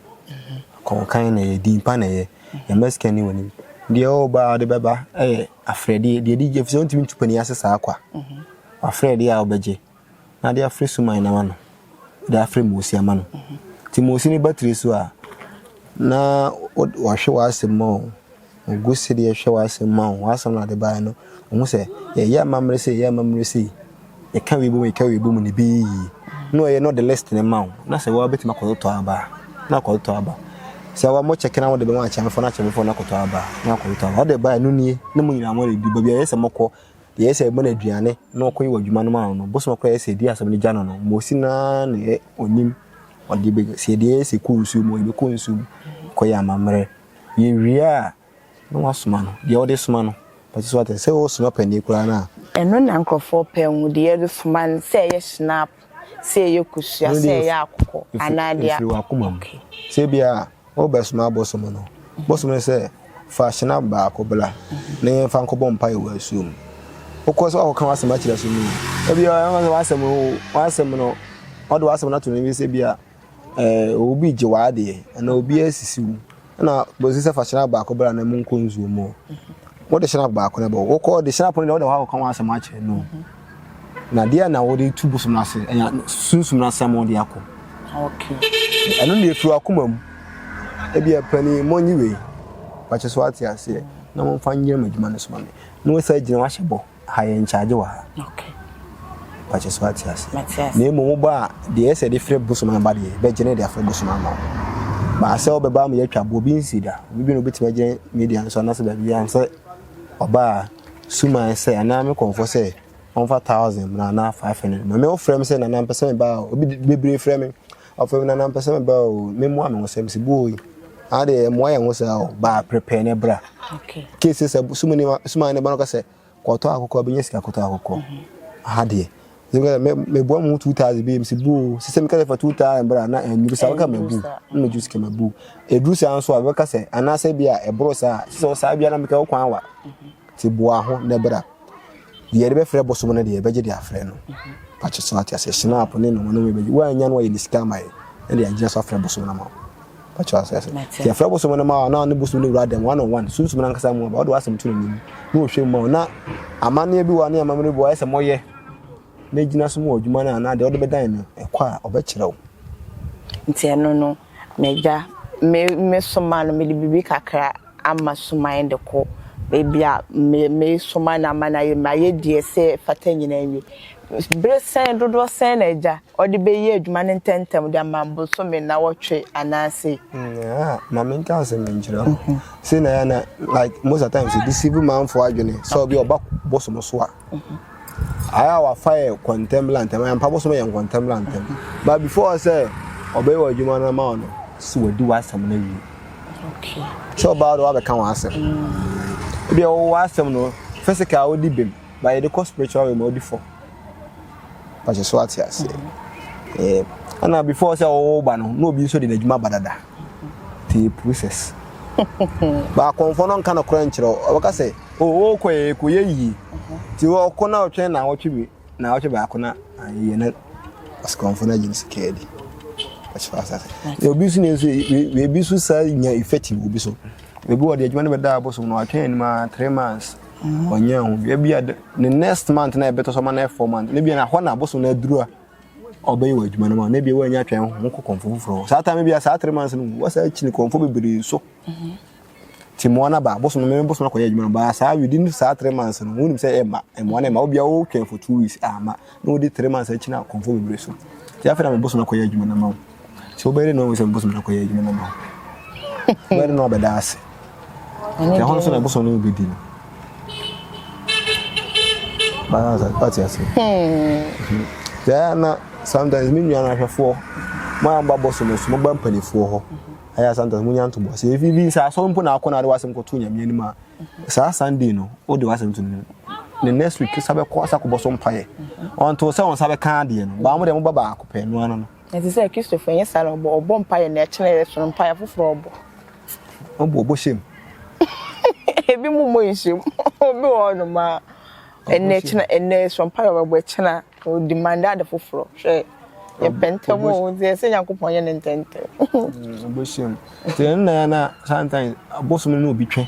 kɔnkan na yɛ din pa na yɛ yɛma sika ni wɔ anim deɛ ɔba a ɔde bɛba yɛ afrɛdeɛ deɛ di efisɛ ɔntumi ntu panin ase saa kwa afrɛdeɛ a ɔbɛgye na de afrɛ suman na ma no de afrɛ moosi ama no ti moosi ne batiri so a na wɔhwɛ wɔ asɛm mu Ogu so de hwɛ w'asɛm mu ahu w'asɛm na ɔde baeɛ no ɔhu sɛ yɛyɛ amammerɛ sei yɛyɛ amammerɛ sei yɛka wei bom yɛka wei bom na ɛbɛyɛ yie na ɔyɛ na ɔde list no ma wo na sɛ woa bɛtumi akɔtotɔ aba a na akɔtotɔ aba sɛ wa mo kyɛke na wode bɛma akyɛmefoɔ na akyɛmefoɔ no akɔtɔ aba na akɔtotɔ aba ɔde baeɛ no nie na mo nyinaa mo redi baabi a yɛ sɛ mokɔ yɛ sɛ ɛbɔ no aduane na ɔkɔyi wɔ adwuma no ma no bosom akora yɛ sɛ ɛdi asɛm no gya no no mo si na na ɔnim ɔde bɛ sɛ ɛdeɛ yɛ sɛ kɔ nsuo mu ɔde bɛkɔ nsuo mu kɔyɛ amammerɛ Yewie a, na wasoma no, deɛ ɔde soma no. But so ate, sɛ ɔresoma panin koraa no a. Ɛno na nkorɔfoɔ pɛ hu, deɛ yɛde soma no, sɛ ɛyɛ Schnapp, sɛ ɛyɛ kosua, sɛ ɛyɛ akokɔ, anaa deɛ. Ɛfiri w'akoma mu. Sɛ ebia worebɛsoma abosom no, bosom no sɛ, Fa Schnapp baako bra na yɛmfa nkɔbɔ mpaeɛ wɔ asuo mu. Wokɔ sɛ woakɔka w'asɛm akyerɛ so no, ebia ɔbɛka sɛ w'asɛm no, w'asɛm no, ɔde w'asɛm no ato no bi sɛ ebia. Obi gye w'adeɛ anaa obi asisi wo na bɛsi sɛ fa hyɛnap baako bra na monkɔ nsuo mu wode hyɛnap baako no bɔ wokɔ de hyɛnap no deɛ wode hɔ akɔka ho asɛm akyerɛ no na deɛ na wode tu bosom no ase sunsum no asɛm wode akɔ ɛno deɛ firi wakoma mu ebi ɛpani mɔnyi wei pakyɛ so ate aseɛ na momfa nyerɛ mo adwuma no so ma me na wɔsa gyina wahyɛ bɔ Ha yɛ nkyagye wɔ ha. Okay. Mpakyɛ so ate ase. Mate ase. Na mmom wobɔ a, deɛ ɛsɛ de frɛ bosom aba deɛ, bɛgyene de afrɛ bosom ama wo. Baa sɛ wobɛba ama yɛatwa boɔ bi nsi da. Obi dwene wobɛtumi agyene media no so anaasɛ baabi a sɛ ɔba a, suman sɛ anaa me kɔmfɔ sɛ ɔmfa thousand mmra anaa five hundred mmra. Me wofrɛ me sɛ nana mpɛ sɛ meba a, obi bebree frɛ me. Afei Nana mpɛ sɛ meba o, memmoa me ho sɛ mese boo yi, aa deɛ ɛmmoa yɛn ho saa o, baa prepare na bra. Kese sɛ suma ni ma, suma ni ba no ka sɛ, kɔtɔ akokɔ, bɛnya sika kɔtɔ akokɔ. Aha deɛ. Sɛ meka sɛ, meboa mo ho 2000 bi, mese boo, sɛ sɛ meka sɛ fa 2000 bra, na ɛnyuru saa, meka ma bu, na mɛgye sika ma bu. Ɛduru saa nso a, bɛka sɛ, anaasɛ bi a ɛboro saa, sɛ sɛ wo saa bi a na meka wo kwan wa, nti boa ho na bra. Deɛ yɛde bɛfrɛ bosom no deɛ yɛbɛgye de afrɛ no. Pakyɛ so ate aseɛ shinap ne nom nom yɛbɛgye. Woannya no a yɛde sika ama yɛ na deɛ agyina so afrɛ bosom no ama wo. Pakyɛ ase ase. Deɛ afrɛ bosom no ma wo na ne bosom no wura dɛm one on one sunsum no ankasa mu aba wode w'asɛm to n'anim na wɔhwɛ mu ma wo na amanneɛ bi wɔ ne amammerɛ bi wɔ ayɛ sɛ mɔyɛ na ɛgyina so mu wɔ adwuma no anaa deɛ wode bɛdan no ɛkɔ a ɔbɛkyerɛ wo. Nti ɛno no m'agya me me soma no mede biribi kakra. ama soman de kɔ baabi a meresoma no ama no ayɛ ma ayɛ deɛ ɛsɛ fata nyinaa awie. Bere sɛn dodoɔ sɛn na agya ɔde bɛyɛ adwuma no ntɛmntɛm de ama bosome nnawɔtwe anaase? Ah, ma menka asɛm bi nkyerɛ ho. Mhm. Sɛ na yɛ na like most of times de civil manfoɔ adwene sɛ obi ɔba bosom so a mhm. Ayɛ a wafa yɛ kɔntɛmlantɛm ayɛ ampa bosom yɛ nkɔntɛmlantɛm but before sɛ ɔbɛyɛ ɔdwuma no ama wo no sɛ wadi w'asɛm no awie sɛ ɔbaa de wabɛka w'asɛm ebi a wɔwɔ w'asɛm no physical wodi bem but yɛde kɔ spiritual realm wodi fam pakyɛ so ate ase ɛɛ ɛna before sɛ wɔwɔ ba no na obi nso de n'adwuma ba dada te process baakɔnfɔ no nka no korɛ nkyerɛ ɔbɛka sɛ O, wokɔ yɛ, kɔ yɛ yie. Ti ɔkɔ na ɔtwɛn na ɔtwe bi, na ɔtwe baako na ayɛ na ɔsikɔnfo na gyina sika adi. Ɔkyerɛ asase. Na obi nso nyɛ nso, ebi nso saa nya effective obi so. Ebi wɔ de adwuma no bɛda abosom na watwɛn anim a three months. Ɔnyɛ ho. Ebi a ne next month na ɛbɛtɔ so ma na four months. Ebi na hɔ na abosom na aduru a ɔbɛyɛ wɔ adwuma no ma. Na ebi wɔ anya twɛn ho kɔ kɔnfo foforɔ. Saa time bi a saa three months no wɔ saa kyini kɔnfo bebree so. Ti mmoa no aba bosom me bosom akɔyɛ adwuma no baa saa within saa three months no wɔn nim sɛ ɛma mmoa no ɛma obi a wɔtwɛn for two weeks ama ah, na wɔde three months akyi na kɔnfo bebree so ti afei na me bosom akɔyɛ adwuma no ama wo sɛ wobɛyɛ no wɔn sɛ me bosom akɔyɛ adwuma no ama wo wobɛyɛ no abɛda ase ɛne ɛhɔ nso na bosom no bɛdi no baasa ɔte ase sɛ na sometimes me nua no ahwɛfoɔ mo a mo ba bosom so mo ba mpanimfoɔ hɔ. ayɛ a sometimes mo nya ntoboa sɛ efi bi sɛ asɔre mpo na akɔ na ade wasɛm kɔto nyame anim a saa sunday no wode wasɛm to no ne next week sa bɛkɔ asa kɔbɔ so mpaeɛ ɔnto sɛ ɔnsa bɛka adeɛ no baa mo deɛ moba baako pɛ no ano no ɛte sɛ kristofo ɛnyɛ saa na ɔbɔ ɔbɔ mpaeɛ na ɛkyena yɛ so no mpaeɛ foforɔ ɔbɔ ɔbɔ ɔbɔ hyɛm ebi mu mmɔ nhyɛm obi wɔ hɔ nom a Ɛnɛ kyena ɛnɛ ɛsoro mpaeɛ ɔbɛbɔ ɛkyena ɔdi mande ade foforɔ hwɛ yɛpɛ ntɛm o deɛ sɛ nyankopɔn yɛ ne ntɛntɛm ɔbɛhyɛ mu nti ɛno na yɛ na sometimes abosom no na obi twɛ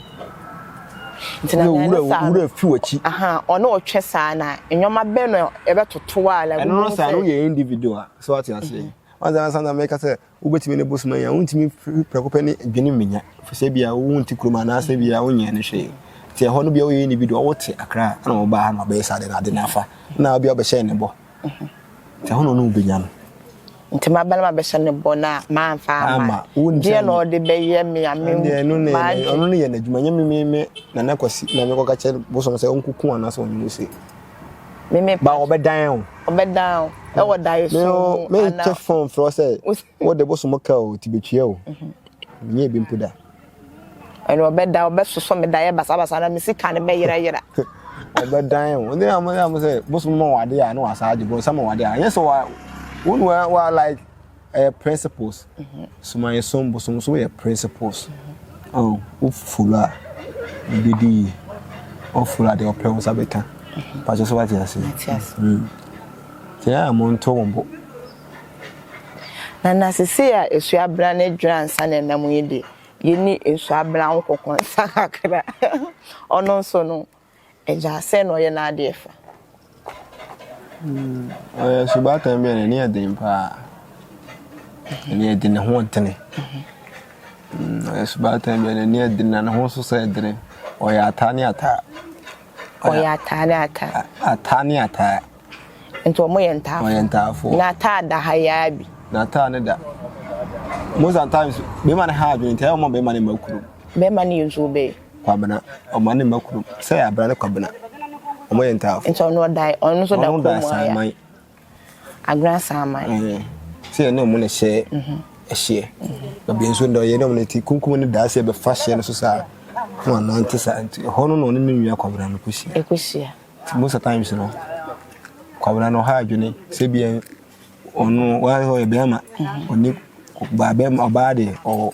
nti na wura wura fi wakyi aha ɔne ɔtwɛ saa na nneɛma bɛ no ɛbɛtoto a la ɛno no saa no yɛ individual so ate aseɛ ɔnsa na sometimes mɛka sɛ Wobɛtumi ne bosom anya. Wontumi firi prɛko pɛ ne adwenem bɛnya, ɛfiri sɛ ebia wonte kurom anaasɛ ebia wonyɛɛ no hwee. Nti ɛhɔ no bia woyɛ ne bi deɛ wote Accra na wobaa ha na wobɛyɛ saa deɛ na ade no afa na ebia wobɛhyɛ ne bɔ. Nti ɛhɔ na ɔne wo bɛnya no. Nti m'abalima bɛhyɛ ne bɔ na mamfa ama. Deɛ na ɔde bɛyɛ me a me m'adwe. Ɔno ne yɛ n'adwuma nyɛ me me Nana Kwasi na mekɔka kyerɛ bosom sɛ ɔnkɔku anaasɛ ɔnye Mose. Me me ba ɔbɛdan o. Ɔbɛdan o. Ɛwɔ dae so. Me o me nkyɛ fon frɛ sɛ wo de bosom ka o ti betwia o. Mhm. Nyɛ bi mpo da. Ɛna ɔbɛda ɔbɛsosɔ me daeɛ basabasa na me sika no bɛyerɛyerɛ. Ɔbɛdan o. Ɔde amu amu sɛ bosom ma wade a na wasa agye bɔ sama wade a. Ɛnyɛ sɛ wa wo wa like ɛyɛ principles sumaeɛ som bosom so yɛ principles ɔn wofolo a ebi di yie wofolo a deɛ ɔpɛ wo nsa bɛka pakyɛ so wate ase tiɛ a mo nto wo bo na na sese a esuabena ne dwera nsa na ɛnam yi de yɛni esuabena ho kɔkɔ nsa kakra ɔno nso no Agya, sɛn na ɔyɛ n'adeɛ fa? Ɔyɛ subaatan bi a n'ani yɛ den paa. N'ani yɛ den, ne ho dene. Ɔyɛ subaatan bi a n'ani yɛ den na ne ho nso sɛ dene. Ɔyɛ ataa ne ataa. Ɔyɛ ataa ne ataa. Ataa ne ataa. Nti wɔn yɛ ntaafo. Wɔn yɛ ntaafo. Na ataa da ha yaa bi. Na ataa ne da. Most of the times, bɛrima ne ha adwene nti ɛyɛ wɔn bɛrima ne mma kuro. Bɛrima ne yɛ nsuo bɛyɛ. Kwabena, ɔma ne mma kurom. Sɛ yɛ Abena ne Kwabena, wɔyɛ ntaafo. Nti ɔno ɔdae, ɔno nso da kurom aya. Agena Saaman. Ɛɛ, sɛ yɛ ne wɔn na hyɛ ɛhyeɛ. Mm-hmm. Ebi nso da ɔyɛ ne wɔn ti kunkum ne daa sɛ ɛbɛfa hyɛ no so saa. Na wɔn anante saa nti ɛhɔ no na ɔne ne nua Kwabena no kɔhyia. Ɛkɔhyia. Nti most of times no, Kwabena no ɔha adwene sɛ bi ɔno wɔayɛ ɔyɛ bɛrima, ɔne mm-hmm. ɔbaa bɛrima ɔbaa deɛ ɔwɔ.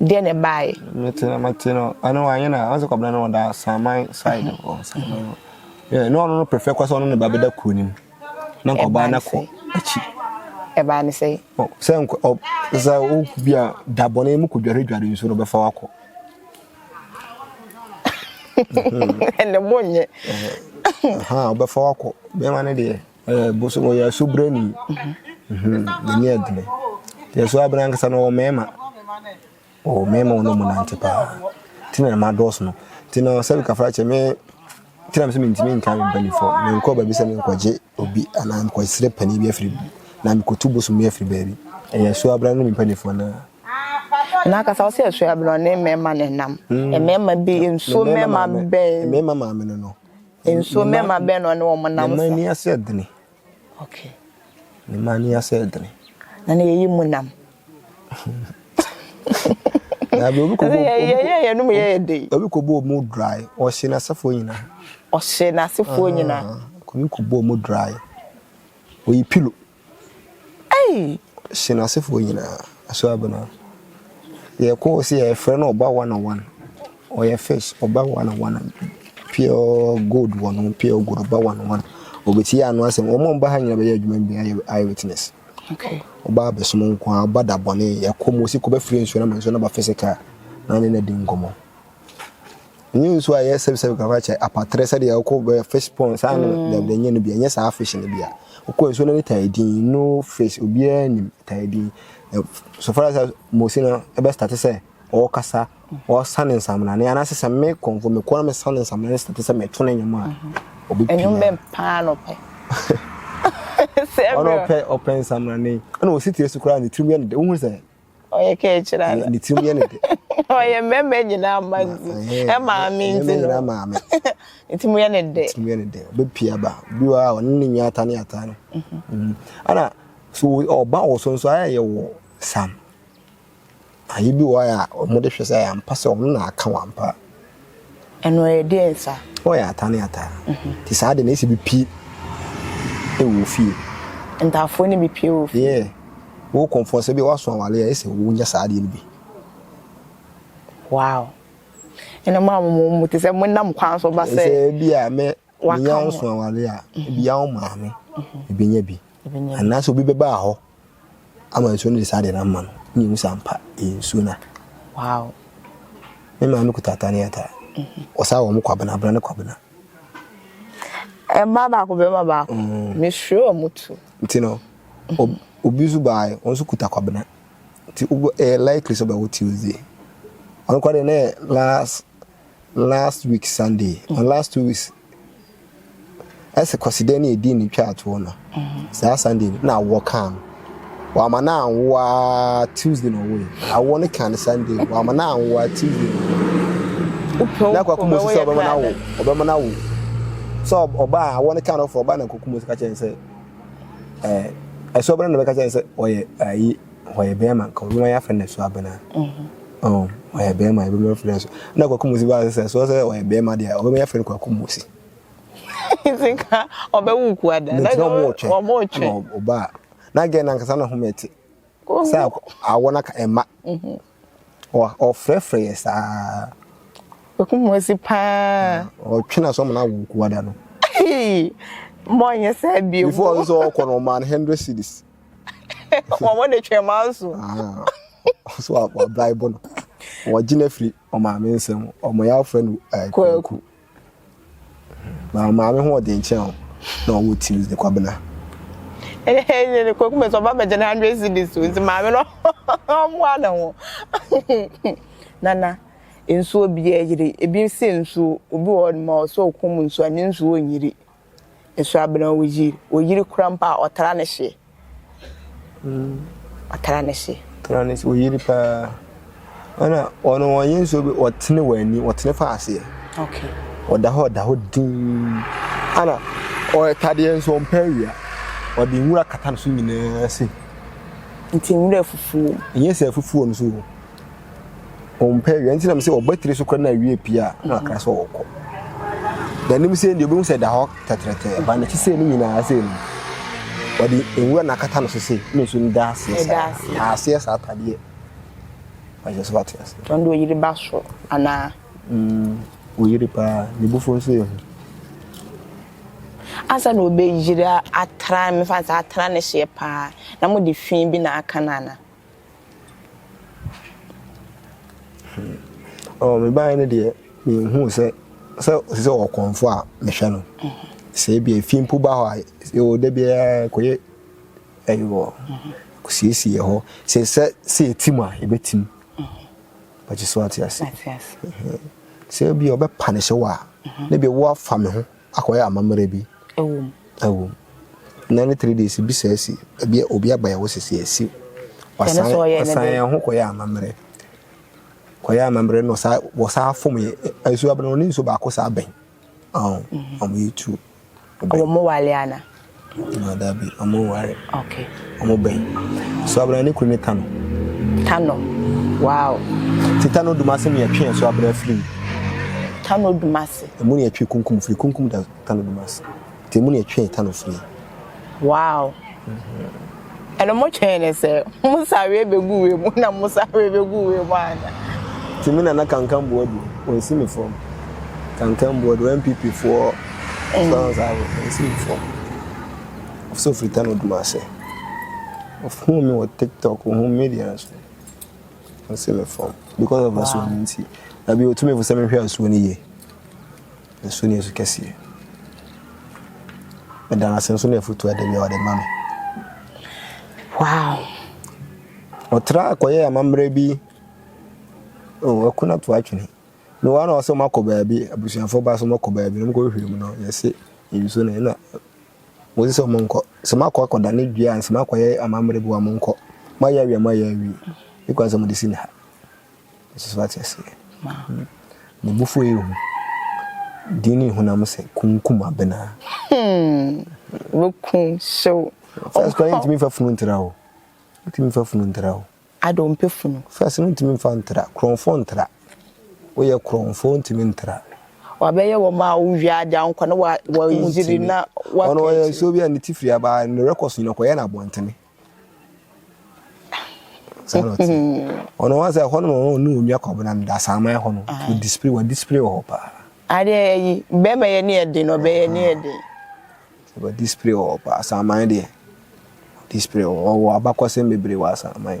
Deɛ na ɛbaeɛ. Mete na mate no ɛno anyɛ na ɔsɛ kɔbena no ɔda Saman side hɔ Saman hɔ na ɔno no prefer kɔ sɛ ɔno ne ba bɛda kuro no mu na nkɔbaa no kɔ akyi ɛbaa ne sɛ sɛ sɛ woku bi a da bɔne mu kɔdwaredware nsuo no bɛfa wakɔ ɛnɛ bɔ nyɛ wobɛfa wakɔ bɛma no deɛ Eh, bosom ɔyɛ asobrani n'ani adene deɛ so abena ankasa no ɔwɔ mmarima ɔwɔ mmarima wɔn mu nante paa nti na ma dɔɔso no nti na sɛ bikafra kyɛ me nti na me sɛ mentumi nka me mpanimfoɔ menkɔ baabi sɛ menkɔgye obi anaa mekɔsrɛ panin bi afiri bi na mekɔtu bosom bi afiri baabi ɛyɛ so abena no ne mpanimfoɔ no na akasa wo sɛ ɛso abena ne mmarima ne nam mmarima bi nsuo mmarima bɛn mmarima maame no no Nso me mma bɛn na ɔne wɔn nam sa? Ne mma ani asɛ dene. Okay. Ne mma ani asɛ dene. Na ne yɛyi mu nam. Na bi obi kɔbɔ yɛyɛ yɛnum yɛyɛ de. Obi kɔbɔ ɔmo dry ɔhyɛ n'asefoɔ nyinaa. Ɔhyɛ n'asefoɔ nyinaa. Obi kɔbɔ ɔmo dry oyi pilo. Ei! Hye n'asefoɔ nyinaa. Aso Abena. Yɛkɔ sɛ yɛfrɛ no ɔba one on one. Ɔyɛ fish ɔba one on one. Pure gold wɔ no pure gold ɔba one on one. Ɔbɛtie ano asɛm. Wɔn a wɔba ha nyinaa bɛyɛ adwuma bi ayɛ ayɛ witness. Okay. Ɔba abɛsom nko a ɔba da bɔne yɛkɔ mu osi kɔ bɛfiri nsuo na ma nsuo no ba physical na ne na di nkɔmmɔ. Nye nsu a yɛ sɛp sɛp kakra kyɛ apatrɛ sɛ deɛ ɔkɔ bɛ fish pond saa no mm. dɛm dɛ nye no bia nye saa fish no bia ɔkɔ nsu no ne taa din no fish obiara nim taa din so far as mosi no ɛbɛ start sɛ ɔkasa ɔsan ne nsamina ne anase sɛ me kɔnfo me kɔn me san ne nsamina ne start sɛ me to ne nyom a mm-hmm. obi pia ɛnyom bɛ paa no pɛ ɔno ɔpɛ ɔpɛ nsamina ne ɛna ɔsi tiri so koraa ne tirim yɛ ne dɛ wohu sɛ ɔyɛ kɛ kyerɛ ana ne tirim yɛ ne dɛ ɔyɛ mmarima nyinaa ma nti ɛmaame nti no nti mu yɛ ne dɛ nti mu yɛ ne dɛ ɔbɛpia ba bi wɔ a ɔne ne nwa ata ne ata no ana so ɔba wɔ so nso ayɛ yɛ wɔ sam ayɛ bi wɔ a wɔde hwɛ sɛ ayɛ ampa sɛ ɔno na aka wɔ ampa Ɛno ɛyɛ deɛn saa? Ɔyɛ ata ne ata. Nti saa de na ɛsɛ bi pie wɔ fie. Ntaafoɔ no bi pie wɔ fie? Yeah. Wo kɔmfoɔ sɛ bi woaso awale a ɛsɛ wo nyɛ saa adeɛ no bi. Wow. Ɛna mo a mo mo mo te sɛ mo nam kwan so ba sɛ. Sɛ bi a mɛ menya wo so awale a bi a wo maame ɛbɛnya bi. Anaasɛ obi bɛba hɔ ama nsuo no de saa adeɛ no ama no na yɛhu sɛ ampa ɛyɛ nsuo no a wow me maame kuta ata ne ata ɔsaa wɔ mo kwabena abena ne kwabena mmaa baako bɛma baako mm. mesuro wɔ mo tu nti no obi nso baae wɔn nso kuta kwabena nti ɛyɛ likely sɛ ɔbɛwo tuesday ɔno kora deɛ ne last Last week Sunday or last two weeks ɛsɛ kwasidan ne ɛdi ne twa atoɔ no saa Sunday no na awɔ kaa no wama no anwoa Tuesday na ɔwɔ yi awɔ no kaa no Sunday wama no anwoa Tuesday na akɔ akɔmɔ si sɛ ɔbɛma no awo ɔbɛma no awo sɛ ɔbaa awɔ no kaa no fɔ ɔbaa na akɔkɔmɔ si ka kyɛn sɛ ɛɛ ɛsɛ ɔbɛn na bɛka kyɛn sɛ ɔyɛ ayi. Ɔyɛ bɛɛma nka obi ma yɛ afrɛ no so abena. Oh, ɔyɛ bɛɛma ebi ma afrɛ no so. Na kwaku musi ba sɛ so sɛ ɔyɛ bɛɛma deɛ ɔbɛma yɛ afrɛ no kwaku musi. Sika ɔbɛwu ku ada. Na gyina ɔmo ɔtwe. Ɔmo ɔtwe. Na ɔba. Na gɛ na nkasa na ho mɛte. Sɛ awɔ na ka ɛma. Ɔfrɛfrɛ yɛ saa. Ɔku ho asi paa. Ɔtwe n'aso ama no awo kuada no. Hey! Mma ɔnyɛ saa bio. Before ɔno sɛ ɔkɔ no, ɔmaa no hundred cedis. Wɔn de twɛn maa nso. So wabraibo no. Wɔgye no afiri ɔmaame nsam. Wɔyɛ afrɛ no kwaku. Na ɔmaame ho ɔden kyɛn wo na ɔwɔ tiris de kwabena. Ɛyɛ ne kwaku mɛsɛ ɔba bɛgye ne hundred cedis o nti maame no ɔmmoa ne ho. Nana nsuo biaa yiri ebi se nsuo obi wɔ hɔ ma ɔsɛ ɔkɔm nsuo a ne nsuo nyiri. Nso abena wo yir. Wo yir kora mpo a ɔtra ne hye. Ɔtra ne hye. Tra ne hye. Wo yir paa. Ɛna ɔno wɔnyɛ nso bi ɔtene wɔ ani ɔtene fa aseɛ. Okay. Ɔda hɔ ɔda hɔ din. Ɛna ɔtadeɛ nso ɔmpɛ awia. Ɔde nwura kata ne so nyinaa se. Nti nwura fufuo. Nyɛ sɛ fufuo nso o. ɔmpɛ awia nti na mesɛ ɔba tiri so kora na awia pie a na wakra sɛ ɔkɔ n'anim sɛ deɛ obɛhu sɛ da hɔ tɛtrɛtɛ ba n'akyi sɛ no nyinaa sɛ no ɔde nwura na akata no so sɛ na nso no da aseɛ saa na aseɛ saa atadeɛ ahyɛ so ate ase ɔno deɛ ɔyere ba so anaa mm, ɔyere paa ne bufo nso yɛ ho ansa na ɔbɛyere atra mefa sɛ atra ne hyeɛ paa na mode fi bi na aka no ana Oh, me baa no deɛ, mehu sɛ sɛ ɔsi sɛ ɔkɔnfo a mehwɛ no. Sɛ ebi efi mpo ba hɔ a, ɛwɔ da biara kɔyɛ ɛyi wɔ kosiesie hɔ. Sɛ sɛ sɛ etim a, ebetim. Bɛgye so ate ase. Sɛ ebi ɔbɛpa ne hyɛ wɔ a, ne bi wo afa me ho. Akɔyɛ amammerɛ bi. Ɛwɔ mu. Ɛwɔ mu. Nnan ne three days bi saa si. Ebi obi aba yɛ wo sisi asi. Wasan wasan yɛn ho kɔyɛ amammerɛ. Kɔyɛ amammerɛ no saa wɔ saa fom yɛ. Nsuo abena wɔn ne nsuo baako saa bɛn. Ɔn. Wɔn yɛ two. Wɔn mo wale ana. No dabi ɔmo nware. Ok. Ɔmo bɛn. So abena ne kunu ne Tano. Tano wow. Ti Tano dumase ne yɛtwe ɛso abena firi mu. Tano dumase. Emu ne yɛtwe kunkum firi kunkum da Tano dumase. Ti emu ne yɛtwe Tano firi. Wow. Mm -hmm. Ɛno mo twɛn ne sɛ mo sareɛ bɛgu wei mu na mo sareɛ bɛgu wei mu ana? Nti me nana kankan boa du wɔnsi me fam kankan boa du NPP foɔ sɔn saa no wɔnsi me fam ɔfisɛ ofiri tano dum ase ɔfuu me wɔ tiktok ɔhu media nso wɔnsi me fam because of asuo no nti na bi ɔtumi fo sɛ mehwɛ asuo no yie Nsu ne nsu kɛseɛ. Meda no ase nso ne afotuo a da bi a ɔde ma me. Wow! Ɔtraa kɔyɛɛ amammerɛ bi. Oh, aku no to atwene. Me wa na ɔsɛ ɔmakɔ baabi, abusuafoɔ ba sɛ ɔmakɔ baabi na ɔmkɔhwehwɛ mu no, yɛse nsu no na wɔsi sɛ ɔmonkɔ. Sɛ makɔ akɔda ne dua ansa makɔyɛ amammerɛ bi wa monkɔ. Moayɛ awie a moayɛ awie. Yɛkwan sɛ mode si ne ha. Jesus wate aseɛ ne bo fuo yɛ hu din ne hunam sɛ kunkum abena. Hmm wo kun hyew. First kwan ntumi fa funu ntra o ntumi fa funu ntra o. Ada ɔmpɛ funu. First no ntumi fa ntra korɔnfo ntra woyɛ korɔnfo ntumi ntra. Wabɛyɛ wɔn a wowie ade a nkwa na wɔyiri na wɔkɛ. Ɔno ɔyɛ nsuo bi a ne ti firi abaa ne rekɔ so nyina kɔyɛ no abɔntene. saa na ɔte ɔno wa sɛ ɛhɔ no wɔn ɔne wɔn nua kɔbena no da saa man ɛhɔ no ah. wɔ disipiri wɔ disipiri wɔ hɔ paa. adeɛ ɛyi bɛrima yɛ ne ɛden na ɔbɛyɛ ne ɛden. wɔ disipiri wɔ hɔ paa saa man deɛ disipiri wɔ wɔ abakɔsɛm bebree wɔ asan man.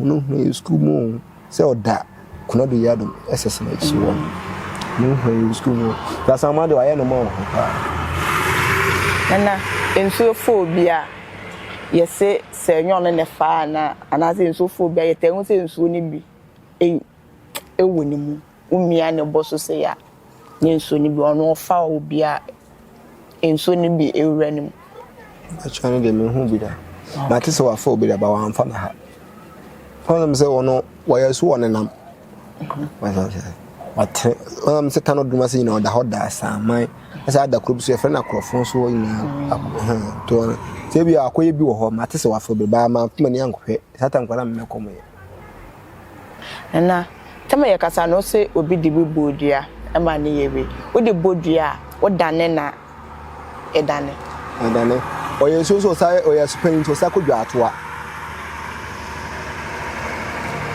Hɔn ohia yɛ skuul mu oo, sɛ ɔda Konadu Yard mu Sasana ekyir hɔ no, hɔn ohia yɛ skuul mu oo, Sasanma de ɔayɛ no ma wo ho paa. Nana, nsuo fɔɔ bi a, yɛse sɛ ɛnyɛ ɔno na ɛfaa anaa? Anaasɛ nsuo fɔɔ bi a, yɛtaa hu sɛ nsuo no bi wɔ ne mu? womia ne bo so sei a, ne nsuo no bi, ɔno ɔfa a obi a nsuo no bi wura ne mu. Ɛkyɛ no deɛ mehu bi da. Mate sɛ wafa obi da ba wamfa me ha. Ɔnam sɛ ɔno wɔyɛ so wɔ ne nam. Wate ɔnam sɛ kano dum ase nyinaa ɔda hɔ da asaman. Ɛsɛ ada kuro bi so yɛfrɛ no akorɔfo so hɔ nyinaa. Tɔ sɛ bi akɔyɛ bi wɔ hɔ mate sɛ wafa obi ba ma kuma ni ankɔhwɛ. Satan nkwadaa mmɛ kɔm yɛ. Nana tama yɛ kasa no ɔsɛ obi de bi bɔɔ dua ɛma ne yɛ wei wo de bɔ dua a wo dane na ɛdane. Ɛdane ɔyɛ nsuo nso ɔsa ɔyɛ asupanyin nti ɔsa kɔ dwa atoa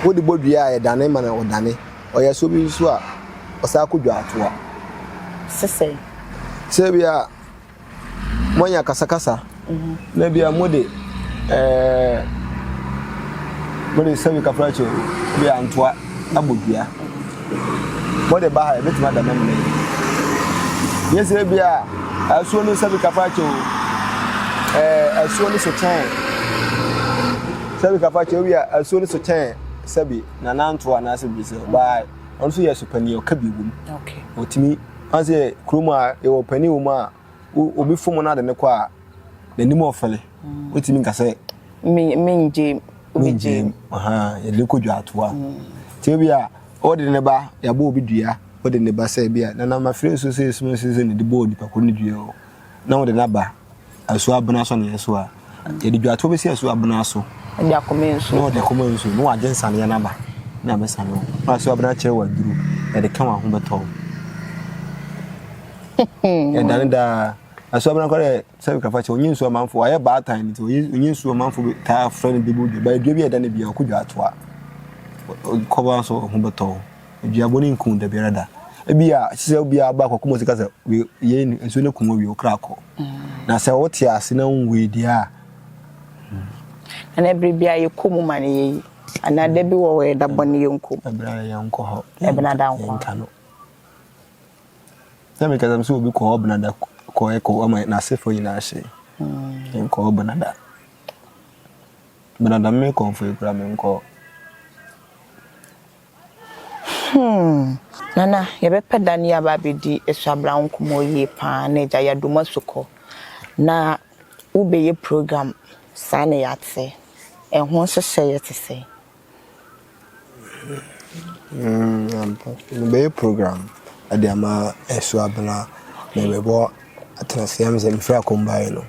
wo de bɔ dua a ɛdane ma na ɔdane ɔyɛ asuo bi nso a ɔsa kɔ dwa atoa. Sisɛ. Sɛ bi a moanya akasakasa na bia mode ɛɛ mode sɛbi kafrakye bi antoa abɔ dua mode ba ha ebetumi ada mɛmɛ yi yɛ sɛ bia asuo no sɛbi kafrakye o ɛɛ asuo no so kyɛn sɛbi kafrakye o bia asuo no so kyɛn sɛbi na nantoa anaasɛ bi sɛ ɔbaa ɔno nso yɛ so panyin ɔka bi wom ɔtumi. Ɔka sɛ kurom a yɛwɔ panin wɔ mu a obi fom na ade ne kɔ a n'anim ɔfɛle wotumi nka sɛ mengye obi gye yɛde kɔ dwaatoa nti ebi a ɔde ne ba yɛabɔ obi dua ɔde ne ba sɛ ebi a nana mafiri nso sɛ esum nso sɛ ne de bɔɔ nipa koro ne dua o na ɔde n'aba Asuo abena so na yɛ so a. Yɛde dwatoɔ bɛsi asuo abena so. Ɛde akɔma nsuo. Na ɔde akɔma nsuo. Na wagye nsaneɛ no aba. Na abɛsa no. Na asuo abena kyerɛ wɔ aduru. Yɛde ka wɔn ho bɛtɔ. Ɛdane daa. Asuo abena kɔ dɛ sɛbi kafa kyɛ. Onye nsuo amanfo. Wayɛ baatan nti. Onye nsuo amanfo taa frɛ no debodua. Ba dua bi a ɛda no bia ɔkɔ dwatoa. Kɔba nso ho bɛtɔ. dua bɔne nku da biara da ebi a ɛsɛ sɛ obiara aba akɔko mu sika sɛ wei yei no nsuo no ku mu wie wo kra kɔ mm. na sɛ wote ase na wonwui deɛ a mm. ɛna ɛbere bi a yɛkɔ mu ma no yɛyi anaa da bi wɔ hɔ yɛda bɔne yɛnkɔ mu ɛbena da yɛnkɔ hɔ ɛbena da nkɔ yɛnka no sɛ mekasa m sɛ obi kɔ hɔ bena da kɔ ɛkɔ ama n'asefoɔ nyinaa hye mm. yɛnkɔ hɔ bena da bena da mekɔmfoɔ yi kora menkɔ Humm! Nana, yɛbɛpɛ da no yi aba abɛdi Asuabra nkɔmmɔ yie pa ara na agya yɛadɔ mo asu kɔ. Na wobɛyɛ program saa na yɛate. Ɛho nhyehyɛeɛ te sɛn? Humm, ampa. Mebɛyɛ program de ama Asuabra na mebɔ Atenaseam sɛ mefiri Akom baeɛ no.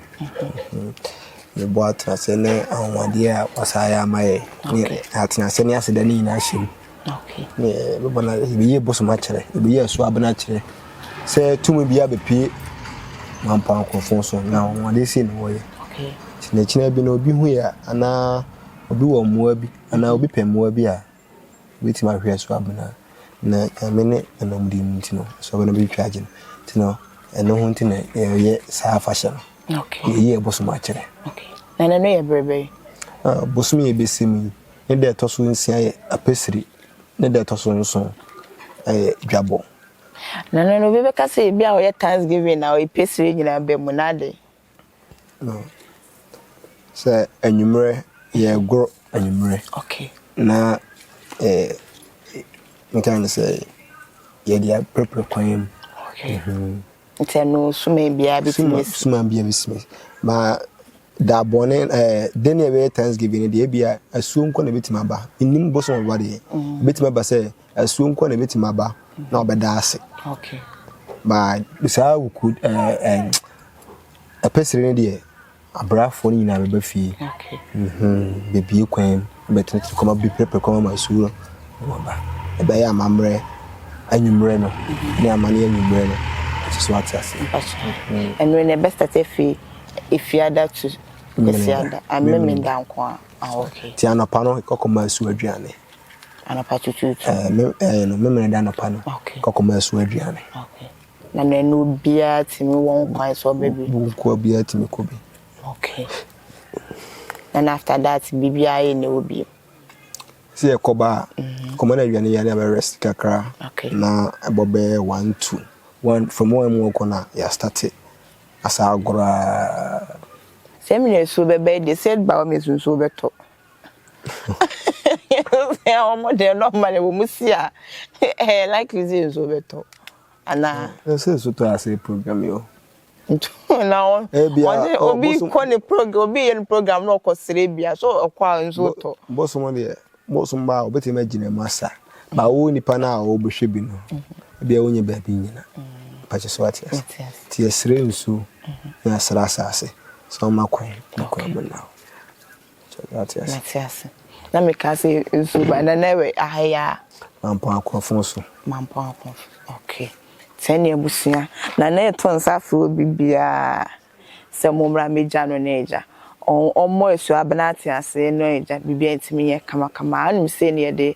Yɛbɔ atenase ne ahoɔden a wɔsan yɛ ama yɛ ne atenase ne aseda no nyinaa hyɛ mu. Ne yɛbɛbɔ no yɛbɛyi bosom akyerɛ yɛbɛyi ɛso abena akyerɛ sɛ tumi bi abɛpie mampo ankorɔfoɔ so na ahoɔden sei na wɔyɛ. Kyinakyina bi na obi hu yɛ anaa obi wɔ mmoa bi anaa obi pɛ mmoa bi a Wobetumi ahwɛ so abena na Nyame ne N'anamdie mu nti no, so ɔbɛno bɛtwitwa agye no. Nti no, ɛno ho nti na yɛyɛ saa afahyɛ no. Yɛyi yɛn bosom akyerɛ. Na ɛno no yɛ berɛ bɛn? Bosom yɛ bɛsi mu yi, ne da ɛtɔ so nsia yɛ Apesiri, ne da ɛtɔ so nson yɛ Dwabɔ. Na ɛno no, obi bɛka sɛ ebi a ɔyɛ Thanksgiving na ɔyɛ Pesiri nyinaa bɛ mu, na adɛn? No, sɛ anwummerɛ yɛregoro anwummerɛ. Okay. Na eh, nka ne sɛ yɛde apirapira kwan mu. Okay. Mm -hmm. Nti ɛno suma biara bi tumi si. Suma biara bi si. Ma da bɔne eh, den ne ɛbɛyɛ thanksgiving deɛ ebi a asuo nkɔ na ebetumi aba. Nnim bosom ɔba deɛ. Ebetumi mm. aba sɛ Asuo nko na ebetumi aba na ɔbɛda ase. Okay. Ba saa wuku ɛɛ ɛɛ ɛpɛsiri ne deɛ abrafoɔ no nyinaa bɛba fie. Okay. Mhm. Bebie kwan bɛtɛnɛtɛnɛ kɔma bi pɛrɛpɛrɛ kɔma ma asuo no wɔba. Ɛbɛyɛ amammerɛ anwummerɛ no mhm. ne amane anwummerɛ no ɛte so ate ase. Mhm. Ɛnure na ɛbɛstate afi efiada to kwasiada amemenda nko a. Ah, okay. Ti anɔpa no kɔkɔma asuo aduane. Anɔpa tutuutu? Ɛɛ, me, ɛɛ no, me mene da anɔpa no. Okay. Kɔkɔ ma ɛso aduane. Okay. Na mɛ no biara tumi wɔ nkwan sɛ ɔbɛ bi? Wo nkoa biara tumi kɔ bi. Okay. And after that, bibi ayɛ ne wo bi. Sɛ yɛ kɔba a, mhm. kɔma na aduane yɛ ne abɛ rest kakra. Okay. Na ɛbɔ bɛyɛ one two. One, from one mu ɔkɔ na yɛ starte asa agorɔ a. Sɛ mene nsuo bɛbɛ de, sɛ ba wɔ me nsuo bɛtɔ. wɔn deɛ normal wɔ mu si a ɛyɛ likely sɛ nsuo bɛtɔ anaa. ɛsɛ nsu tɔ ase program yi o. na wɔn wɔn obi kɔ ne program obi yɛ ne program na ɔkɔ sere bia so ɔkɔ a nsuo tɔ. bosom deɛ bosom ba a obetumi agyina mu asa ba wo nipa na a ɔbɛhwɛ bi no ebi a wonyɛ baabi nyina mpakyɛ so ate ase ti yɛsrɛ nsuo na yɛsrɛ asase sɛ ɔma kwan na kwan mu na Mate ase. Na meka sɛ nsuo ba na na ɛwɛ aha yi a. Mampɔn akorɔfon so. Mampɔn akorɔfon ok sɛn ne abusua na na yɛto nsa frɛ obi biara sɛ mommra megya no ne agya ɔmmɔ asu abena ate ase ne agya biribiara ntumi nyɛ kama kama a wonim sei ne yɛde